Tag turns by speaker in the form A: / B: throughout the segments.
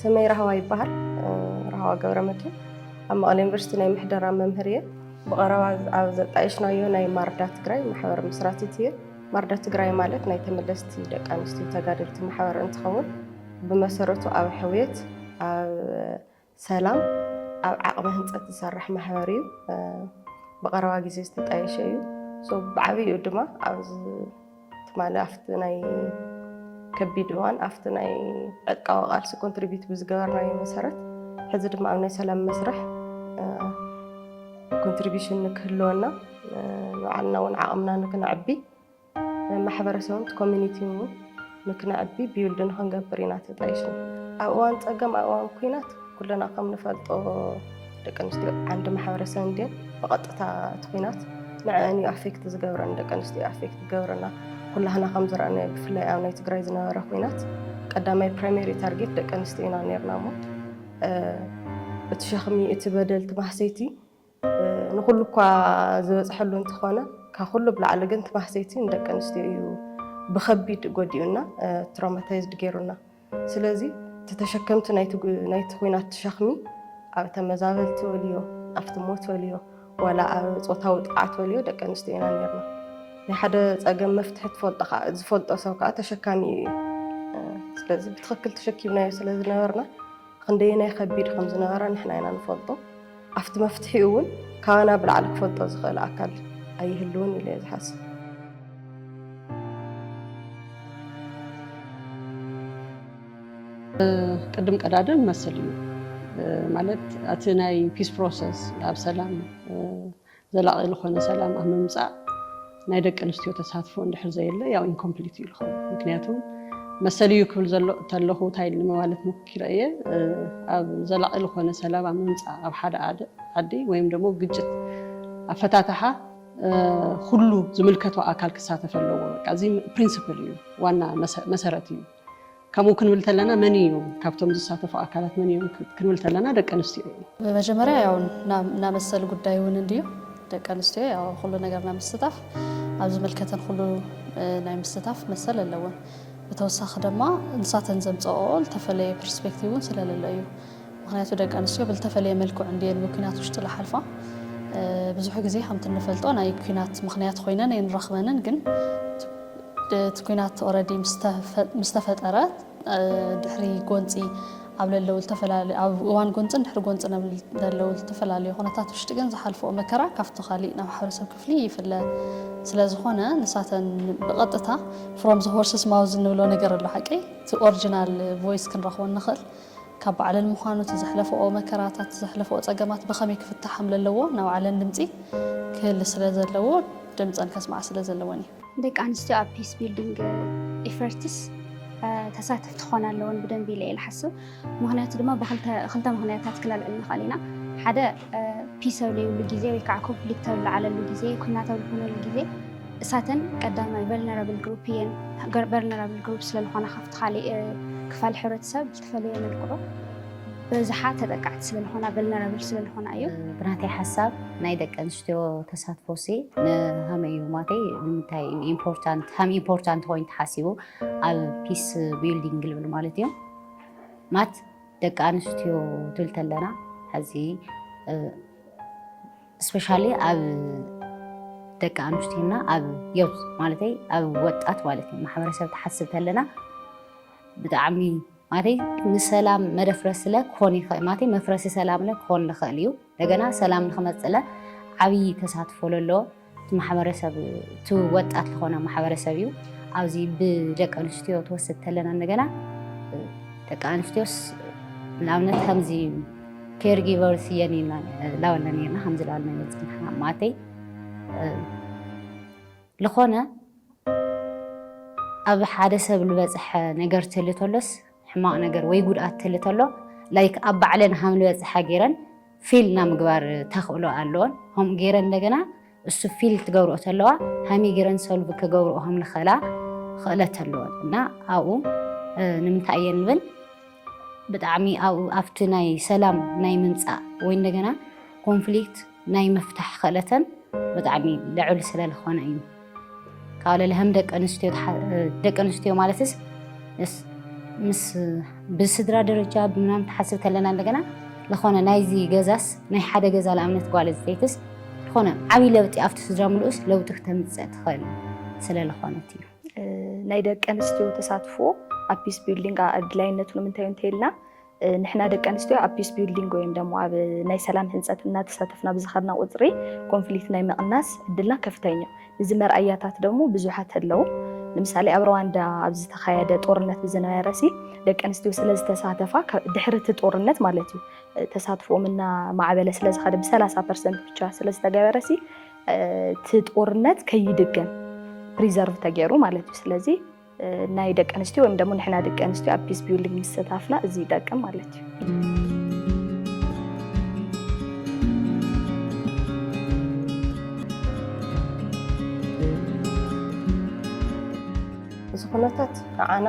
A: ስመይ ራህዋ ይበሃል ራህዋ ገብረመድህን ኣብ መቐለ ዩኒቨርሲቲ ናይ ምሕደራ መምህር እየ ብቐረባ ኣብ ዘጣየሽናዮ ናይ ማርዳ ትግራይ ማሕበር ምስራቲት እየ ማርዳ ትግራይ ማለት ናይ ተመለስቲ ደቂ ኣንስትዮ ተጋደልቲ ማሕበር እንትኸውን ብመሰረቱ ኣብ ሕውየት ኣብ ሰላም ኣብ ዓቕሚ ህንፀት ዝሰርሕ ማሕበር እዩ። ብቐረባ ግዜ ዝተጣየሸ እዩ። ብዓብይኡ ድማ ኣብዚ ትማሊ ኣብቲ ናይ ከቢድ እዋን ኣብቲ ናይ ዕጥቃዊ ቃልሲ ኮንትሪቢዩት ብዝገበርናዮ መሰረት ሕዚ ድማ ኣብ ናይ ሰላም መስርሕ ኮንትሪቢሽን ንክህልወና ንባዕልና እውን ዓቕምና ንክነዕቢ ማሕበረሰብን ኮሚኒቲን እውን ንክነዕቢ ቢውልድ ንክንገብር ኢና ተጣይሽና። ኣብ እዋን ፀገም ኣብ እዋን ኩናት ኩልና ከም ንፈልጦ ደቂ ኣንስትዮ ዓንዲ ማሕበረሰብ እንድየን ብቐጥታ እቲ ኩናት ንዐን እዩ ኣፌክት ዝገብረን ደቂ ኣንስትዮ ኣፌክት ዝገብረና ኩላህና ከም ዝረኣናዮ ብፍላይ ኣብ ናይ ትግራይ ዝነበረ ኩናት ቀዳማይ ፕራይሜሪ ታርጌት ደቂ ኣንስትዮ ኢና ነርና እሞ እቲ ሸኽሚ እቲ በደል እቲ ማህሰይቲ ንኹሉ እኳ ዝበፅሐሉ እንተኾነ ካብ ኩሉ ብላዕሊ ግን እቲ ማህሰይቲ ንደቂ ኣንስትዮ እዩ ብከቢድ ጎዲኡና ትሮማታይዝድ ገይሩና ስለዚ እቲ ተሸከምቲ ናይቲ ኩናት ሸኽሚ ኣብ ተመዛበልቲ ወልዮ ኣብቲ ሞት ወልዮ ዋላ ኣብ ፆታዊ ጥቕዓት ወልዮ ደቂ ኣንስትዮ ኢና ነርና ናይ ሓደ ፀገም መፍትሒ ትፈልጦ ከዓ ዝፈልጦ ሰብ ከዓ ተሸካሚ እዩ ስለዚ ብትኽክል ተሸኪምናዮ ስለ ዝነበርና ክንደየናይ ከቢድ ከም ዝነበረ ንሕና ኢና ንፈልጦ። ኣብቲ መፍትሒኡ እውን ካባና ብላዕሊ ክፈልጦ ዝኽእል ኣካል ኣይህልውን ኢለ እየ ዝሓስብ።
B: ቅድም ቀዳድም መስል እዩ ማለት እቲ ናይ ፒስ ፕሮሰስ ኣብ ሰላም ዘላቒ ልኾነ ሰላም ኣብ ምምፃእ ናይ ደቂ ኣንስትዮ ተሳትፎ እንድሕር ዘየለ ያው ኢንኮምፕሊት እዩ ልኸውን ምክንያቱ መሰል እዩ ክብል ዘሎ ተለኹ እንታይ ኢልኒ መባለት ምክኪረ እየ ኣብ ዘላቒ ልኾነ ሰላም ኣብ ምምፃእ ኣብ ሓደ ዓዲ ወይም ደግሞ ግጭት ኣፈታትሓ ኩሉ ዝምልከቶ ኣካል ክሳተፍ ኣለዎ በቃ እዚ ፕሪንስፕል እዩ ዋና መሰረት እዩ ከምኡ ክንብል ተለና መን እዩ ካብቶም ዝሳተፉ ኣካላት መን እዮም ክንብል ተለና ደቂ ኣንስትዮ እዩ። መጀመርያ ያው
C: ናብ መሰል ጉዳይ እውን እንድዩ ደቂ ኣንስትዮ ያው ኩሉ ነገር ናብ ምስታፍ ኣብ ዝምልከተን ኩሉ ናይ ምስታፍ መሰል ኣለወን። ብተወሳኺ ድማ ንሳተን ዘምፀኦ ዝተፈለየ ፐርስፔክቲቭ እውን ስለለለ እዩ። ምኽንያቱ ደቂ ኣንስትዮ ብልተፈለየ መልክዑ እንድየን ብኲናት ውሽጢ ልሓልፋ። ብዙሕ ግዜ ከምቲ እንፈልጦ ናይ ኲናት ምኽንያት ኮይነን ኣይንረኽበንን ግን እቲ ኲናት ኦረዲ ምስተፈጠረ ድሕሪ ጎንፂ ኣብ ለለው ዝተፈላለዩ ኣብ እዋን ጎንፅን ድሕሪ ጎንፅን ኣብ ለለው ዝተፈላለዩ ኩነታት ውሽጢ ግን ዝሓልፈኦ መከራ ካብቲ ካሊእ ናብ ማሕበረሰብ ክፍሊ ይፍለ ስለ ዝኾነ ንሳተን ብቐጥታ ፍሮም ዘ ሆርስስ ማውዝ እንብሎ ነገር ኣሎ ሓቀይ እቲ ኦሪጂናል ቮይስ ክንረኽቦ ንኽእል ካብ ባዕለን ምዃኑ እቲ ዘሕለፈኦ መከራታት ዘሕለፈኦ ጸገማት ብኸመይ ክፍታሕ ከም ለለዎ ናይ ባዕለን ድምጺ ክህሊ ስለ ዘለዎ ድምጸን ከስምዓ ስለ ዘለወን እዩ። ደቂ ኣንስትዮ ኣብ
D: ፒስ ቢልዲንግ ኢፈርትስ ተሳተፍቲ ክኾና ኣለወን ብደንቢ ኢለ እየ ልሓስብ። ምኽንያቱ ድማ ብክልተ ምኽንያታት ክነልዕል ንኽእል ኢና ሓደ ፒስ ኣብ ዘይብሉ ግዜ ወይ ከዓ ኮንፍሊክት ኣብ ዝለዓለሉ ግዜ ኩናት ኣብ ዝኾነሉ ግዜ እሳተን ቀዳማይ ቨልነራብል ግሩፕ እየን። ቨልነራብል ግሩፕ ስለዝኾነ ካብቲ ካሊእ ክፋል ሕብረተሰብ ዝተፈለየ መልክዑ በብዝሓ ተጠቃዕቲ ስለዝኾና ቨልነራብል ስለዝኾና እዩ። ብናተይ ሓሳብ
E: ናይ ደቂ ኣንስትዮ ተሳትፎሲ ንሃመይ እዩ ማተይ ንምንታይ ኢምፖርታንት ሃም ኢምፖርታንት ኮይኑ ተሓሲቡ ኣብ ፒስ ቢልዲንግ ልብል ማለት እዩ ማት ደቂ ኣንስትዮ ትብል ተለና ሕዚ ስፔሻሊ ኣብ ደቂ ኣንስትዮና ኣብ ዮት ማለተይ ኣብ ወጣት ማለት እዩ ማሕበረሰብ ትሓስብ ተለና ብጣዕሚ ማለት ንሰላም መደፍረስ ስለ ክኾን ይኽእል ማለት መፍረሲ ሰላም ለ ክኾን ንኽእል እዩ እንደገና ሰላም ንክመፅእለ ዓብዪ ተሳትፎ ለለዎ እቲ ማሕበረሰብ እቲ ወጣት ዝኾነ ማሕበረሰብ እዩ ኣብዚ ብደቂ ኣንስትዮ ትወስድ ተለና እንደገና ደቂ ኣንስትዮስ ንኣብነት ከምዚ ኬር ጊቨርስ እየን ላወለን እየና ከምዚ ላወለን እየ ፅንሓ ማእተይ ዝኾነ ኣብ ሓደ ሰብ ዝበፅሐ ነገር ትህሊ ተሎስ ሕማቅ ነገር ወይ ጉድኣት ትህሊ ተሎ like ኣብ ባዕለን ሃም ልበፅሓ ገይረን feel ናይ ምግባር ተኽእሎ ኣለወን ከምኡ ገይረን እንደገና እሱ feel ትገብርኦ ተለዋ ሃምይ ገይረን solve ክገብርኦ ከም ልኽእላ ኽእለት ኣለወን እና ኣብኡ ንምንታይ እየን ንብል ብጣዕሚ ኣብኡ ኣብቲ ናይ ሰላም ናይ ምምፃእ ወይ እንደገና ኮንፍሊክት ናይ ምፍታሕ ክእለተን ብጣዕሚ ልዑል ስለልኾነ እዩ ካብ ለለህም ደቂ ኣንስትዮ ደቂ ኣንስትዮ ማለትስ ምስ ብስድራ ደረጃ ብምናምን ትሓስብ ከለና እንደገና ዝኾነ ናይዚ ገዛስ ናይ ሓደ ገዛ ንኣብነት ጓል ዝተይትስ ዝኾነ ዓብይ ለውጢ ኣብቲ ስድራ ምልኡስ ለውጢ ክተምፅእ ትኽእል ስለዝኾነት እዩ ናይ ደቂ
F: ኣንስትዮ ተሳትፎ ኣብ ፒስ ቢልዲንግ ኣድላይነቱ ንምንታይ እንተይልና ንሕና ደቂ ኣንስትዮ ኣብ ፒስ ቢልዲንግ ወይም ደሞ ኣብ ናይ ሰላም ህንፀት እናተሳተፍና ብዝኸድና ቁፅሪ ኮንፍሊክት ናይ ምቕናስ ዕድልና ከፍተኛ እዩ። እዚ መርኣያታት ደሞ ብዙሓት ኣለዉ። ንምሳሌ ኣብ ሩዋንዳ ኣብ ዝተኻየደ ጦርነት ብዝነበረሲ ደቂ ኣንስትዮ ስለ ዝተሳተፋ ድሕሪ እቲ ጦርነት ማለት እዩ ተሳትፎኦም እና ማዕበለ ስለ ዝኸደ ብሰላሳ ፐርሰንት ብቻ ስለ ዝተገበረሲ እቲ ጦርነት ከይድገም ፕሪዘርቭ ተገይሩ ማለት እዩ። ስለዚ ናይ ደቂ ኣንስትዮ ወይም ደሞ ንሕና ደቂ ኣንስትዮ ኣብ ፒስ ቢልዲንግ ምስተታፍና እዚ ይጠቅም ማለት እዩ። እዚ
A: ኩነታት ንዓና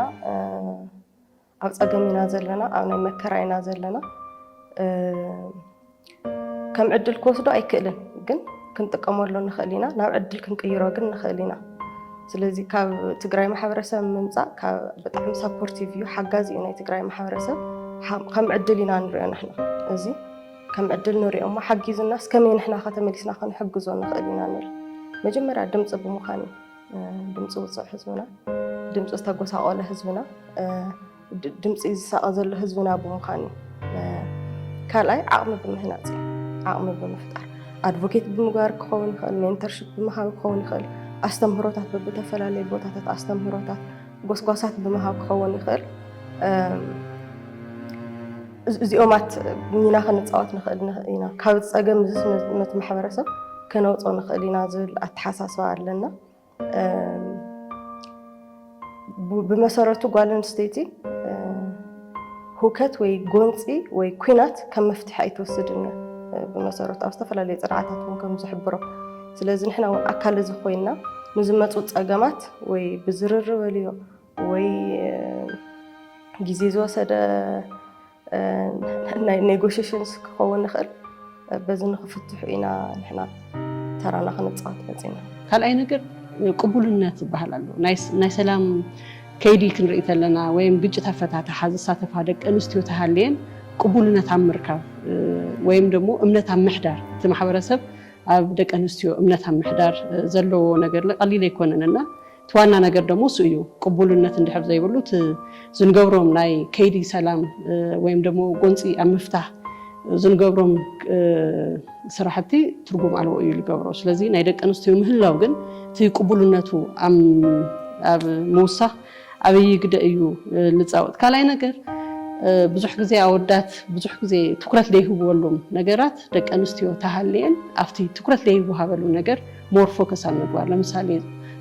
A: ኣብ ፀገም ኢና ዘለና ኣብ ናይ መከራ ኢና ዘለና ከም ዕድል ክወስዶ ኣይክእልን፣ ግን ክንጥቀመሉ ንኽእል ኢና። ናብ ዕድል ክንቅይሮ ግን ንኽእል ኢና። ስለዚ ካብ ትግራይ ማሕበረሰብ ምምፃእ ብጣዕሚ ሰፖርቲቭ እዩ፣ ሓጋዚ እዩ ናይ ትግራይ ማሕበረሰብ። ከም ዕድል ኢና ንሪኦ ንሕና እዚ ከም ዕድል ንሪኦ እሞ ሓጊዙናስ ከመይ ንሕና ከተመሊስና ክንሕግዞ ንኽእል ኢና ንብል መጀመርያ ድምፂ ብምዃን እዩ። ድምፂ ውፅዕ ህዝብና፣ ድምፂ ዝተጎሳቆለ ህዝብና፣ ድምፂ ዝሳቀ ዘሎ ህዝብና ብምዃን ካልኣይ ዓቕሚ ብምህናፅ ዓቕሚ ብምፍጣር ኣድቮኬት ብምግባር ክኸውን ይኽእል፣ ሜንተርሽፕ ብምሃብ ክኸውን ይኽእል፣ ኣስተምህሮታት ብብተፈላለዩ ቦታታት ኣስተምህሮታት ጎስጓሳት ብምሃብ ክኸውን ይኽእል። እዚኦማት ሚና ክንፃወት ንኽእል ኢና ካብ ፀገም እዚ ነቲ ማሕበረሰብ ከነውፆ ንኽእል ኢና ዝብል ኣተሓሳስባ ኣለና ብመሰረቱ ጓል ኣንስተይቲ ሁከት ወይ ጎንፂ ወይ ኩናት ከም መፍትሒ ኣይትወስድን እያ ብመሰረቱ ኣብ ዝተፈላለዩ ፅርዓታት እውን ከም ዝሕብሮ ስለዚ ንሕና እውን ኣካል እዚ ኮይና ንዝመፁ ፀገማት ወይ ብዝርርበልዮ ወይ ግዜ ዝወሰደ ናይ ኔጎሽሽንስ ክኸውን ንኽእል በዚ ንክፍትሑ ኢና ንሕና ተራና ክንፃወት መፂና ካልኣይ ነገር
B: ቅቡልነት ዝበሃል ኣሎ ናይ ሰላም ከይዲ ክንርኢ ተለና ወይም ግጭት ኣፈታትሓ ዝሳተፋ ደቂ ኣንስትዮ ተሃልየን ቅቡልነት ኣብ ምርካብ ወይም ደግሞ እምነት ኣብ ምሕዳር እቲ ማሕበረሰብ ኣብ ደቂ ኣንስትዮ እምነት ኣብ ምሕዳር ዘለዎ ነገር ቀሊል ኣይኮነን እና እቲ ዋና ነገር ደሞ እሱ እዩ። ቅቡልነት እንድሕር ዘይብሉ እቲ ዝንገብሮም ናይ ከይዲ ሰላም ወይም ደሞ ጎንፂ ኣብ ምፍታህ ዝንገብሮም ስራሕቲ ትርጉም ኣልቦ እዩ ልገብሮ። ስለዚ ናይ ደቂ ኣንስትዮ ምህላው ግን እቲ ቅቡልነቱ ኣብ ምውሳኽ ዓብዪ ግደ እዩ ልፃወጥ። ካልኣይ ነገር ብዙሕ ግዜ ኣወዳት ብዙሕ ግዜ ትኩረት ዘይህብወሎም ነገራት ደቂ ኣንስትዮ ተሃልየን ኣብቲ ትኩረት ዘይወሃበሉ ነገር ሞር ፎከስ ኣብ ምግባር ለምሳሌ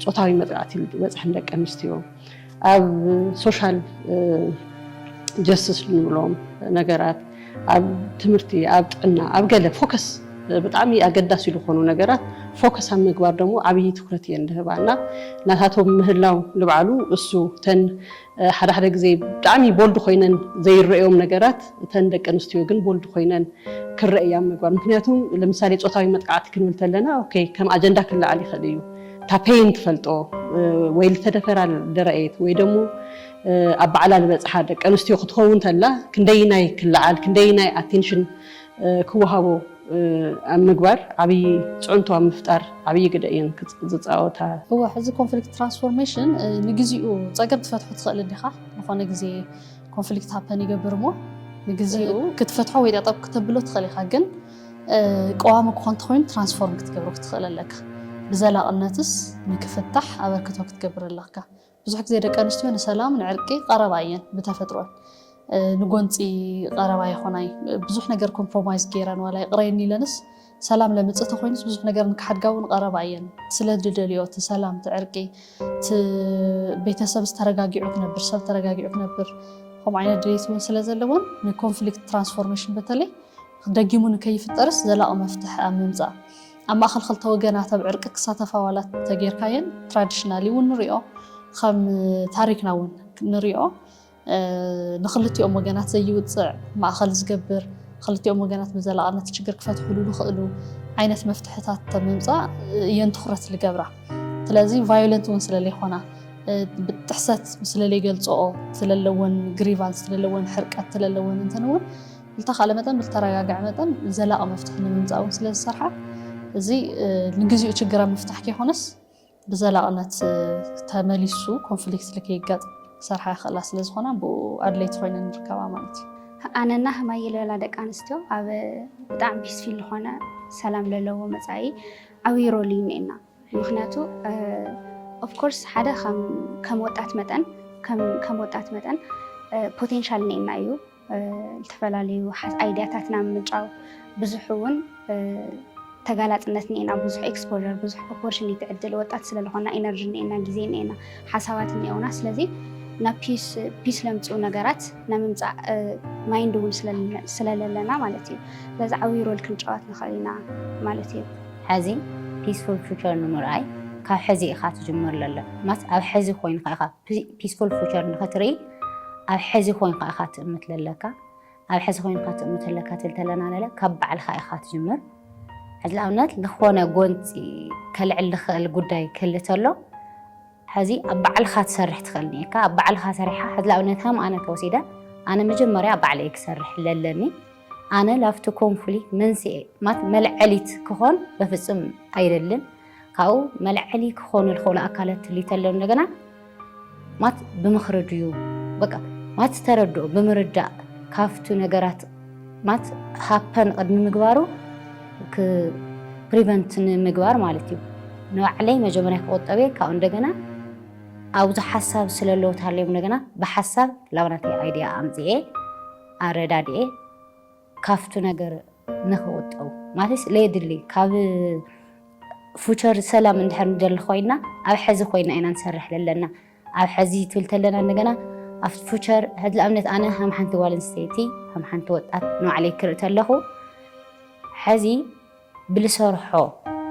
B: ፆታዊ መጥቃዕቲ ዝበፅሐን ደቂ ኣንስትዮ ኣብ ሶሻል ጀስትስ ንብሎም ነገራት ኣብ ትምህርቲ ኣብ ጥዕና ኣብ ገለ ፎከስ ብጣዕሚ ኣገዳሲ ዝኾኑ ነገራት ፎከስ ኣብ ምግባር ደግሞ ዓብዪ ትኩረት እየን ዝህባ እና ናታቶም ምህላው ልብዓሉ እሱ ተን ሓደ ሓደ ግዜ ብጣዕሚ ቦልድ ኮይነን ዘይረኦም ነገራት እተን ደቂ ኣንስትዮ ግን ቦልድ ኮይነን ክረእያ ምግባር ምክንያቱ ለምሳሌ ፆታዊ መጥቃዕቲ ክንብል ተለና ኦኬ ከም ኣጀንዳ ክለዓል ይኽእል እዩ እታ ፔይን ትፈልጦ ወይ ልተደፈራ ደረኤት ወይ ደሞ ኣብ ባዕላ ልበፅሓ ደቂ ኣንስትዮ ክትኸውን ተላ ክንደይናይ ክለዓል ክንደይናይ ኣቴንሽን ክወሃቦ ኣብ ምግባር ዓብዪ ፅዕንቶ ኣብ ምፍጣር ዓብዪ ግደ እየን ዝፃወታ። እወ ሕዚ
C: ኮንፍሊክት ትራንስፎርሜሽን ንግዚኡ ፀገም ትፈትሖ ትኽእል እንዲኻ ዝኾነ ግዜ ኮንፍሊክት ሃፐን ይገብር እሞ ንግዚኡ ክትፈትሖ ወይ ጠጠብ ክተብሎ ትኽእል ኢኻ ግን ቀዋሚ ክኾን ተኮይኑ ትራንስፎርም ክትገብሮ ክትኽእል ኣለካ ብዘላቕነትስ ንክፍታሕ ኣበርክቶ ክትገብር ኣለካ ብዙሕ ግዜ ደቂ ኣንስትዮ ንሰላም ንዕርቂ ቀረባ እየን ብተፈጥሮን ንጎንፂ ቀረባ ይኾናይ ብዙሕ ነገር ኮምፕሮማይዝ ገይረን ዋላ ይቕረየኒ ኢለንስ ሰላም ለምፅእ ተኮይኑስ ብዙሕ ነገር ንክሓድጋ እውን ቀረባ እየን ስለ ድደልዮ እቲ ሰላም እቲ ዕርቂ እቲ ቤተሰብ ዝተረጋጊዑ ክነብር ሰብ ተረጋጊዑ ክነብር ከምኡ ዓይነት ድሌት እውን ስለ ዘለወን ንኮንፍሊክት ትራንስፎርሜሽን በተለይ ደጊሙ ንከይፍጠርስ ዘላቂ መፍትሒ ኣብ ምምፃእ ኣብ ማእኸል ክልተ ወገናት ኣብ ዕርቂ ክሳተፋ ዋላ ተጌርካየን ትራዲሽናሊ እውን ንሪኦ ከም ታሪክና እውን ንሪኦ ንክልቲኦም ወገናት ዘይውፅዕ ማእኸል ዝገብር ክልቲኦም ወገናት ብዘላቕነት ችግር ክፈትሕሉ ዝኽእሉ ዓይነት መፍትሕታት ተምምፃእ እየን ትኩረት ዝገብራ ስለዚ ቫዮለንት እውን ስለለይኮና ብጥሕሰት ስለለይገልፅኦ ስለለወን ግሪቫንስ ስለለወን ሕርቀት ስለለወን እንተንውን ዝተኻለ መጠን ብዝተረጋግዐ መጠን ዘላቒ መፍትሒ ንምምፃእ እውን ስለ ዝሰርሓ እዚ ንግዚኡ ችግር ኣብ ምፍታሕ ከይኮነስ ብዘላቕነት ተመሊሱ ኮንፍሊክት ልከይጋጥ ክሰርሓ ይኽእላ ስለ ዝኾና ብኡ ኣድለይቲ ኮይነ ንርከባ ማለት እዩ ኣነና ህማይ ልበላ
D: ደቂ ኣንስትዮ ኣብ ብጣዕሚ ፒስፊል ዝኾነ ሰላም ለለዎ መፃኢ ዓብዪ ሮል እዩ እኒኤና ምክንያቱ ኦፍኮርስ ሓደ ከም ወጣት መጠን ከም ወጣት መጠን ፖቴንሻል እኒኤና እዩ ዝተፈላለዩ ኣይድያታት ናብ ምጫው ብዙሕ እውን ተጋላፅነት እኒኤና ብዙሕ ኤክስፖዠር ብዙሕ ኦፖርቹኒቲ ዕድል ወጣት ስለዝኾና ኢነርጂ እኒኤና ግዜ እኒኤና ሓሳባት እኒኤውና ስለዚ ናብ ፒስ ፒስ ለምፅኡ ነገራት ናብ ምምፃእ ማይንድ እውን ስለለለና ማለት እዩ በዚ ዓብዪ ሮል ክንጫወት ንኽእል ኢና ማለት እዩ ሕዚ
E: ፒስፉል ፊቸር ንምርኣይ ካብ ሕዚ ኢኻ ትጅምር ለለ ማስ ኣብ ሕዚ ኮይንካ ኢኻ ፒስፉል ፉቸር ንክትርኢ ኣብ ሕዚ ኮይንካ ኢኻ ትእምት ዘለካ ኣብ ሕዚ ኮይንካ ትእምት ዘለካ ትብል ተለና ነለ ካብ ባዕልካ ኢኻ ትጅምር ሕዚ ንኣብነት ዝኾነ ጎንፂ ከልዕል ዝኽእል ጉዳይ ክህሊ ተሎ ሕዚ ኣብ ባዕልካ ትሰርሕ ትኽእል ኒካ ኣብ ባዕልካ ሰሪሕካ ሕዚ ንኣብነት ከም ኣነ ተወሲደ ኣነ መጀመርያ ኣብ ባዕለይ ክሰርሕ ለለኒ ኣነ ላፍቲ ኮንፍሊክት መንስኤ ማለት መልዐሊት ክኾን በፍፁም ኣይደልን ካብኡ መልዐሊ ክኾኑ ዝኽእሉ ኣካለት ትሊተሎ እንደገና ማት ብምኽሪ ድዩ በቃ ማት ተረድኦ ብምርዳእ ካፍቱ ነገራት ማት ሃፐን ቅድሚ ምግባሩ ፕሪቨንት ንምግባር ማለት እዩ ንባዕለይ መጀመሪያ ክቆጠብ እየ ካብኡ እንደገና ኣብዚ ሓሳብ ስለለዎ ተሃልዮም እንደገና ብሓሳብ ላብናተይ ኣይዲያ ኣምፅኤ ኣረዳድኤ ካብቱ ነገር ንክቁጠቡ ማለትስ ለየድሊ ካብ ፉቸር ሰላም እንድሕር ንደሊ ኮይና ኣብ ሐዚ ኮይና ኢና ንሰርሕ ለለና ኣብ ሐዚ ትብል ተለና እንደገና ኣብቲ ፉቸር ሕዚ ንኣብነት ኣነ ከም ሓንቲ ጓል ኣንስተይቲ ከም ሓንቲ ወጣት ንባዕለይ ክርኢ ተለኹ ሐዚ ብልሰርሖ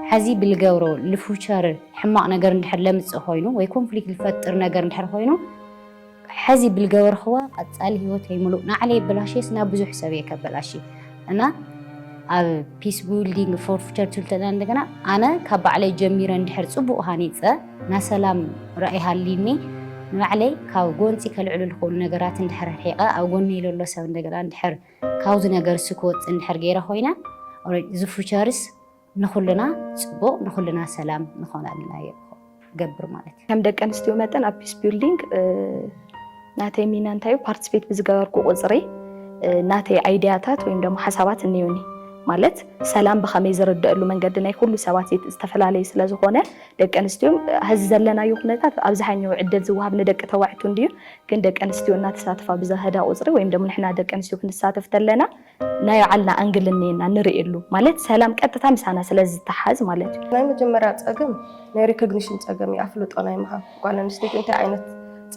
E: ሐዚ ብልገብሮ ልፍውቸር ሕማቕ ነገር እንድሕር ለምፅእ ኾይኑ ወይ ኮንፍሊክት ልፈጥር ነገር እንድሕር ኾይኑ ሐዚ ብልገበርኽዋ ቐፃሊ ህይወተይ ሙሉእ ናዕለይ የበላሽየስ ናብ ብዙሕ ሰብ እየ ከበላሺ እና ኣብ ፒስ ቢልዲንግ ፎር ፊቸር ትልተና እንደገና ኣነ ካብ ባዕለይ ጀሚረ እንድሕር ፅቡቕ ሃኒፀ ናይ ሰላም ራእይ ሃልዩኒ ንባዕለይ ካብ ጎንፂ ከልዕሉ ዝኽእሉ ነገራት እንድሕር ርሒቐ ኣብ ጎነይ ለሎ ሰብ እንደገና እንድሕር ካብዚ ነገርሲ ክወጽእ እንድሕር ገይረ ኮይነ እዚ ፉቸርስ ንኹልና ጽቡቕ ንኹልና ሰላም ንኾነልና እየ ገብር ማለት እዩ። ከም ደቂ ኣንስትዮ መጠን ኣብ
F: ፒስ ቢልዲንግ ናተይ ሚና እንታይ እዩ? ፓርቲስፔት ብዝገበርኩ ቁፅሪ ናተይ ኣይዲያታት ወይም ደግሞ ሓሳባት እኒዩኒ ማለት ሰላም ብኸመይ ዝርደእሉ መንገዲ ናይ ኩሉ ሰባት ዝተፈላለዩ ስለ ዝኾነ ደቂ ኣንስትዮ ሕዚ ዘለናዮ ኩነታት ኣብዝሓኛው ዕድል ዝወሃብ ንደቂ ተባዕቱ እንድዩ ግን ደቂ ኣንስትዮ እናተሳተፋ ብዝኸዳ ቁፅሪ ወይም ደሞ ንሕና ደቂ ኣንስትዮ ክንሳተፍ ተለና ናይ ባዕልና ኣንግል እኒኤና ንርእየሉ ማለት ሰላም ቀጥታ ምሳና ስለ ዝተሓዝ ማለት እዩ። ናይ መጀመርያ ፀገም
A: ናይ ሪኮግኒሽን ፀገም እዩ፣ ኣፍልጦ ናይ ምሃብ ጓል ኣንስተይቲ እንታይ ዓይነት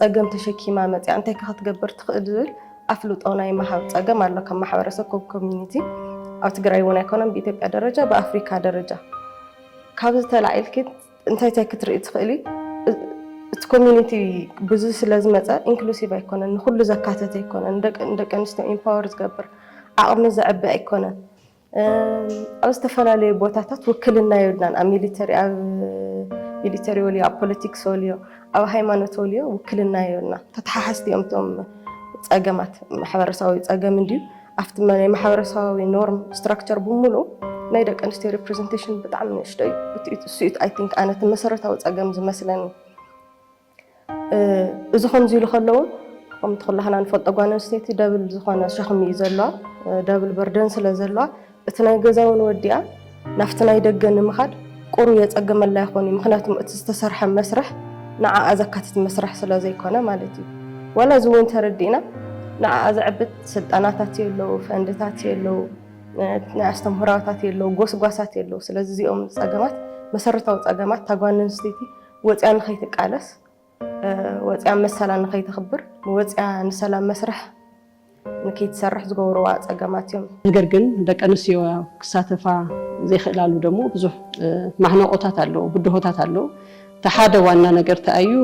A: ፀገም ተሸኪማ መፅያ እንታይ ከ ክትገብር ትኽእል ዝብል ኣፍልጦ ናይ ምሃብ ፀገም ኣሎ ከም ማሕበረሰብ ከም ኮሚኒቲ ኣብ ትግራይ እውን ኣይኮነን ብኢትዮጵያ ደረጃ ብኣፍሪካ ደረጃ ካብዚ ተላዒልኪ እንታይ እንታይ ክትርኢ ትኽእሊ እቲ ኮሚኒቲ ብዙ ስለ ዝመፀ ኢንክሉሲቭ ኣይኮነን፣ ንኩሉ ዘካተተ ኣይኮነን፣ ንደቂ ኣንስትዮ ኢምፓወር ዝገብር ዓቕሚ ዘዕቢ ኣይኮነን። ኣብ ዝተፈላለዩ ቦታታት ውክልና የብልናን። ኣብ ሚሊተሪ ኣብ ሚሊተሪ ወልዮ ኣብ ፖለቲክስ ወልዮ ኣብ ሃይማኖት ወልዮ ውክልና የብልና። ተተሓሓዝቲ እዮም እቶም ፀገማት ማሕበረሰባዊ ፀገም እንድዩ ኣብቲ ናይ ማሕበረሰባዊ ኖርም ስትራክቸር ብምሉ ናይ ደቂ ኣንስትዮ ሪፕሬዘንቴሽን ብጣዕሚ ንእሽቶ እዩ። እሱ እዩ ኣይ ቲንክ ኣነ እቲ መሰረታዊ ፀገም ዝመስለኒ። እዚ ከምዚ ኢሉ ከሎ እውን ከምቲ ኩላህና ንፈልጦ ጓል ኣንስተይቲ ደብል ዝኾነ ሸኽሚ እዩ ዘለዋ፣ ደብል በርደን ስለ ዘለዋ እቲ ናይ ገዛ እውን ወዲኣ ናብቲ ናይ ደገ ንምኻድ ቁሩብ የጸግመላ ይኾን እዩ። ምክንያቱም እቲ ዝተሰርሐ መስርሕ ንዓኣ ዘካትት መስርሕ ስለ ዘይኮነ ማለት እዩ። ዋላ እዚ እውን ተረዲእና ንዓኣ ዘዕብት ስልጠናታት የለዉ፣ ፈንድታት የለዉ፣ ናይ ኣስተምህሮታት የለዉ፣ ጎስጓሳት የለዉ። ስለዚ እዚኦም ፀገማት መሰረታዊ ፀገማት እታ ጓል ኣንስተይቲ ወፂኣ ንኸይትቃለስ ወፂኣ መሰላ ንከይተኽብር ወፂኣ ንሰላም መስርሕ ንከይትሰርሕ ዝገብርዋ ፀገማት እዮም። ነገር ግን ደቂ
B: ኣንስትዮ ክሳተፋ ዘይክእላሉ ደሞ ብዙሕ ማሕነቆታት ኣለዎ፣ ብድሆታት ኣለዎ። እቲ ሓደ ዋና ነገር እንታይ እዩ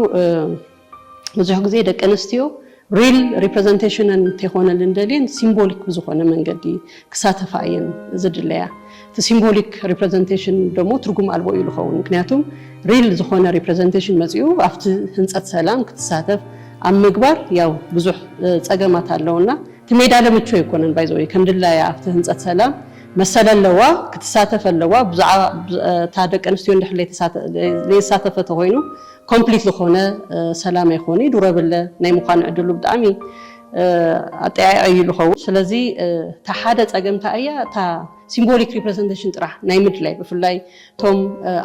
B: ብዙሕ ግዜ ደቂ ኣንስትዮ ሪል ሪፕረዘንቴሽነን ተይኮነልን ደልየን ሲምቦሊክ ብዝኾነ መንገዲ ክሳተፋ እየን ዝድለያ። እቲ ሲምቦሊክ ሪፕረዘንቴሽን ደሞ ትርጉም ኣልቦ እዩ ልኸውን። ምክንያቱም ሪል ዝኾነ ሪፕረዘንቴሽን መጺኡ ኣብቲ ህንጸት ሰላም ክትሳተፍ ኣብ ምግባር ያው ብዙሕ ጸገማት ኣለውና። እቲ ሜዳለ ምቹ ኣይኮነን ባይ ዘ ወይ ከም ድላያ ኣብቲ ህንጸት ሰላም መሰል ኣለዋ ክትሳተፍ ኣለዋ። ብዛዕባ እታ ደቂ ኣንስትዮ እንድሕር ለይተሳተፈ ተኾይኑ ኮምፕሊት ዝኾነ ሰላም ኣይኮኑ ዩ ዱረብለ ናይ ምዃን ዕድሉ ብጣዕሚ ኣጠያያዒ እዩ ዝኸውን። ስለዚ እታ ሓደ ፀገም እንታይ እያ እታ ሲምቦሊክ ሪፕረዘንቴሽን ጥራሕ ናይ ምድላይ ብፍላይ እቶም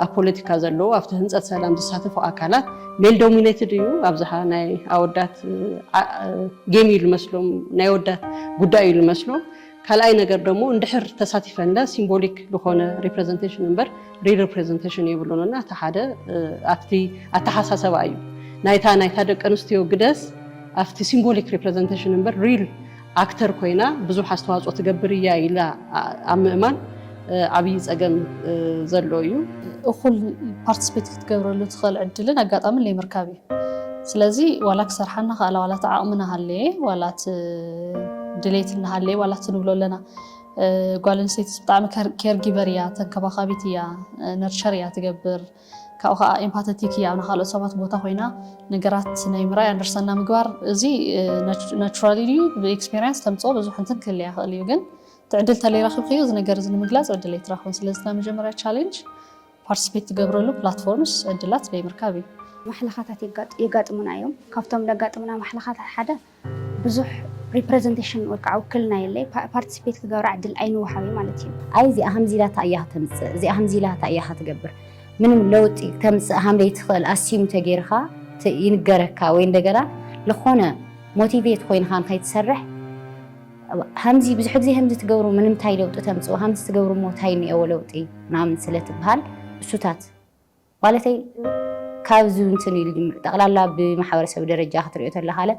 B: ኣብ ፖለቲካ ዘለዉ ኣብቲ ህንፀት ሰላም ዝሳተፉ ኣካላት ሜል ዶሚኔትድ እዩ ኣብዝሓ ናይ ኣወዳት ጌም እዩ ዝመስሎም ናይ ኣወዳት ጉዳይ እዩ ዝመስሎም። ካልኣይ ነገር ደሞ እንድሕር ተሳቲፈንለ ሲምቦሊክ ልኾነ ሪፕረዘንቴሽን እምበር ሪሪፕረዘንቴሽን የብሉን እና እቲ ሓደ ኣብቲ ኣተሓሳሰባ እዩ ናይታ ናይታ ደቂ ኣንስትዮ ግደስ ኣብቲ ሲምቦሊክ ሪፕረዘንቴሽን እምበር ሪል ኣክተር ኮይና ብዙሕ ኣስተዋፅኦ ትገብር እያ ኢላ ኣብ ምእማን ዓብዪ ፀገም ዘሎ እዩ። እኹል
C: ፓርቲስፔት ክትገብረሉ ትኽእል ዕድልን ኣጋጣምን ለይምርካብ እዩ። ስለዚ ዋላ ክሰርሓ እናኸኣላ ዋላ እቲ ዓቕሚ እናሃለየ ዋላ እቲ ድሌት እናሃለየ ዋላ እቲ ንብሎ ኣለና ጓል ኣንስተይቲ ብጣዕሚ ኬር ጊቨር እያ፣ ተንከባኻቢት እያ፣ ነርቸር እያ ትገብር ካብኡ ከዓ ኤምፓተቲክ እያ ኣብ ካልኦት ሰባት ቦታ ኮይና ነገራት ናይ ምርኣይ ኣንደርሳና ምግባር እዚ ናቹራሊ ድዩ ብኤክስፔሪንስ ተምፅኦ ብዙሕ እንትን ክህልያ ይኽእል እዩ ግን ትዕድል ተለይራክብክዩ እዚ ነገር እዚ ንምግላጽ ዕድል ኣይትራክብን ስለዚ እታ መጀመርያ ቻሌንጅ ፓርቲስፔት ትገብረሉ ፕላትፎርምስ ዕድላት ደይምርካብ እዩ። ማሕለኻታት
D: የጋጥሙና እዮም ካብቶም ለጋጥሙና ማሕለኻታት ሓደ ብዙሕ ሪፕረዘንቴሽን ወይ ከዓ ውክልና የለይ ፓርቲስፔት ክገብራ ዕድል ኣይንወሃብይ ማለት እዩ። ኣይ እዚኣ ከምዚ ኢላ እንታይ
E: እያ ከተምጽእ እዚኣ ከምዚ ኢላ እንታይ እያ ከትገብር ምንም ለውጢ ከምጽእ ሃም ለይትኽእል ኣስዩም ተገይርካ ይንገረካ ወይ እንደገና ልኾነ ሞቲቬት ኮይንካ ንኸይትሰርሕ ሃምዚ ብዙሕ ግዜ ሃምዚ ትገብሩ ምንምታይ ለውጢ ተምጽኡ ሃምዚ ትገብሩ እሞ ታይ እኒኤዎ ለውጢ ምናምን ስለ ትብሃል እሱታት ማለተይ ካብዚ እንትን ኢሉ ጅምር ጠቕላላ ብማሕበረሰብ ደረጃ ክትሪኦ ተለኻለ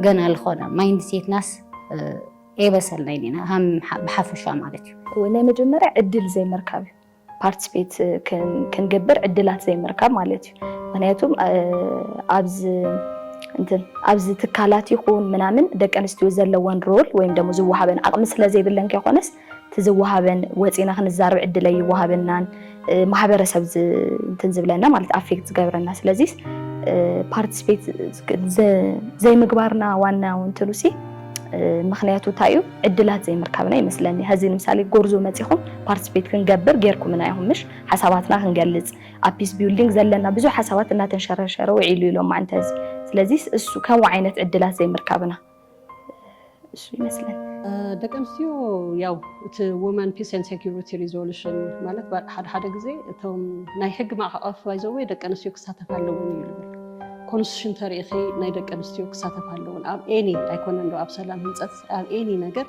E: ገና ዝኾነ ማይንድ ሴትናስ ኤበሰልናይን ኢና ሃም ብሓፈሻ ማለት እዩ ናይ መጀመርያ ዕድል
F: ዘይምርካብ እዩ ፓርቲስፔት ክንገብር ዕድላት ዘይምርካብ ማለት እዩ ምክንያቱ ኣብዚ ኣብዚ ትካላት ይኹን ምናምን ደቂ ኣንስትዮ ዘለወን ሮል ወይም ደሞ ዝወሃበን ዓቕሚ ስለ ዘይብለን ከይኮነስ እቲ ዝወሃበን ወፂና ክንዛረብ ዕድል ኣይወሃበናን ማሕበረሰብ እንትን ዝብለና ማለት ኣፌክት ዝገብረና ስለዚ ፓርቲስፔት ዘይምግባርና ዋና እንትሉ ሲ ምክንያቱ እንታይ እዩ ዕድላት ዘይምርካብና ይመስለኒ ሀዚ ንምሳሌ ጎርዞ መጺኹም ፓርትስፔት ክንገብር ጌርኩምና ኢኹም ምሽ ሓሳባትና ክንገልጽ ኣብ ፒስ ቢውልዲንግ ዘለና ብዙሕ ሓሳባት እናተንሸረሸረ ውዒሉ ኢሎማ እንተ እዚ ስለዚስ እሱ ከምኡ ዓይነት ዕድላት ዘይምርካብና እሱ ይመስለኒ። ደቂ ኣንስትዮ
B: ያው እቲ ውመን ፒስ ኤንድ ሴኩሪቲ ሪዞሉሽን ማለት ባ- ሓደ ሓደ ግዜ እቶም ናይ ሕጊ ማዕቀፍ ባይዘወይ ደቂ ኣንስትዮ ክሳተፋ ኣለውን እዩ ዝብል ኮንስቲቱሽን ተሪኢኺ ናይ ደቂ ኣንስትዮ ክሳተፋ ኣለውን ኣብ ኤኒ ኣይኮነን ዶ ኣብ ሰላም ህንፀት ኣብ ኤኒ ነገር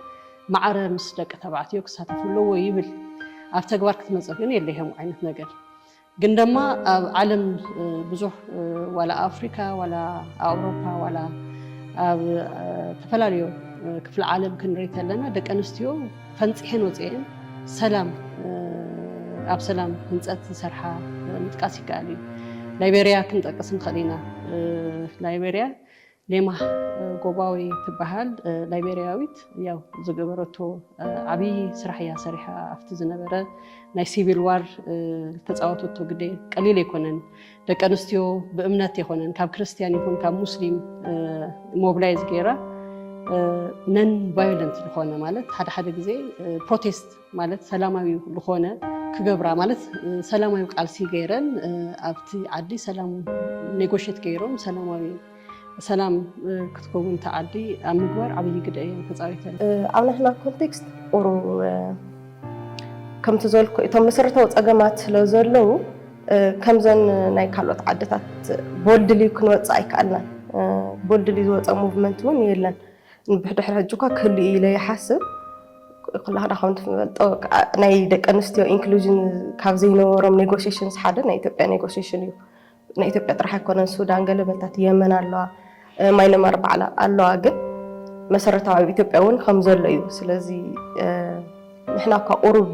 B: ማዕረ ምስ ደቂ ተባዕትዮ ክሳተፍ ኣለዎ ይብል። ኣብ ተግባር ክትመፀ ግን የለ ይሄም ዓይነት ነገር ግን ደማ ኣብ ዓለም ብዙሕ ዋላ ኣፍሪካ ዋላ ኣውሮፓ ዋላ ኣብ ተፈላለዩ ክፍለ ዓለም ክንርኢ ከለና ደቂ ኣንስትዮ ፈንፂሐን ወፅኤን ሰላም ኣብ ሰላም ህንፀት ዝሰርሓ ምጥቃስ ይከኣል እዩ። ላይቤሪያ ክንጠቅስ ንኽእል ኢና። ላይቤሪያ ሌማህ ጎባዊ ትበሃል ላይቤርያዊት ያው ዝገበረቶ ዓብዪ ስራሕ እያ ሰሪሓ ኣብቲ ዝነበረ ናይ ሲቪል ዋር ዝተፃወተቶ ግደ ቀሊል ኣይኮነን። ደቂ ኣንስትዮ ብእምነት ኣይኮነን ካብ ክርስትያን ይኹን ካብ ሙስሊም ሞብላይዝ ገይራ ነን ቫዮለንት ዝኾነ ማለት ሓደ ሓደ ግዜ ፕሮቴስት ማለት ሰላማዊ ዝኾነ ክገብራ ማለት ሰላማዊ ቃልሲ ገይረን ኣብቲ ዓዲ ሰላም ኔጎሽት ገይሮም ሰላማዊ ሰላም ክትከውን እቲ ዓዲ ኣብ ምግባር ዓብዪ ግደ እየን ተፃዊተን። ኣብ ናትና
A: ኮንቴክስት ቁሩ ከምቲ ዘልኩ እቶም መሰረታዊ ፀገማት ስለ ዘለዉ ከምዘን ናይ ካልኦት ዓድታት ቦልድሊ ክንወፅእ ኣይከኣልናን። ቦልድሊ ዝወፀ ሙቭመንት እውን የለን። ብድሕሪ ሕጂ እኳ ክህሉ እዩ ኢለ ይሓስብ ክላክዳ ከም ትፈልጦ ናይ ደቂ ኣንስትዮ ኢንክሉዥን ካብ ዘይነበሮም ኔጎሽሽንስ ሓደ ናይ ኢትዮጵያ ኔጎሽሽን እዩ ናይ ኢትዮጵያ ጥራሕ ኣይኮነን ሱዳን ገለ በልታት የመን ኣለዋ ማይነማር ባዕላ ኣለዋ ግን መሰረታዊ ኣብ ኢትዮጵያ እውን ከም ዘሎ እዩ ስለዚ ንሕና እኳ ቁሩብ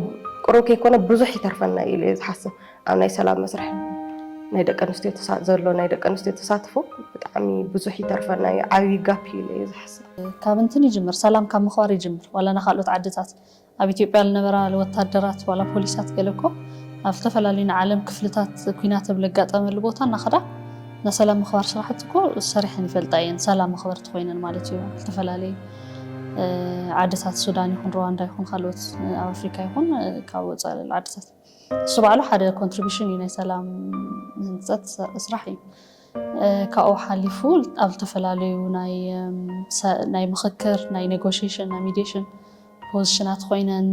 A: ቁሩብ ከይኮነ ብዙሕ ይተርፈና እዩ ኢለ ዝሓስብ ኣብ ናይ ሰላም መስርሕ ናይ ደቂ ኣንስትዮ ዘሎ ናይ ደቂ ኣንስትዮ ተሳትፎ ብጣዕሚ ብዙሕ ይተርፈና እዩ ዓብዪ ጋፕ እዩ ኢለ እየ
C: ዝሓስብ ካብ እንትን ይጅምር ሰላም ካብ ምኽባር ይጅምር ዋላ ናብ ካልኦት ዓድታት ኣብ ኢትዮጵያ ዝነበራ ወታደራት ዋላ ፖሊሳት ገለ እኮ ኣብ ዝተፈላለዩ ናይ ዓለም ክፍልታት ኩናት ኣብ ለጋጠመሉ ቦታ እናኸዳ ናይ ሰላም ምኽባር ስራሕቲ እኮ ሰሪሐን ይፈልጣ እየን ሰላም መኽበርቲ ኮይነን ማለት እዩ ዝተፈላለዩ ዓድታት ሱዳን ይኹን ሩዋንዳ ይኹን ካልኦት ኣብ ኣፍሪካ ይኹን ካብ ወፃኢ ዓድታት ንሱ ባዕሉ ሓደ ኮንትሪቢሽን እዩ ናይ ሰላም ህንፀት ስራሕ እዩ። ካብኡ ሓሊፉ ኣብ ዝተፈላለዩ ናይ ምኽክር፣ ናይ ኔጎሽሽን፣ ናይ ሚዲሽን ፖዚሽናት ኮይነን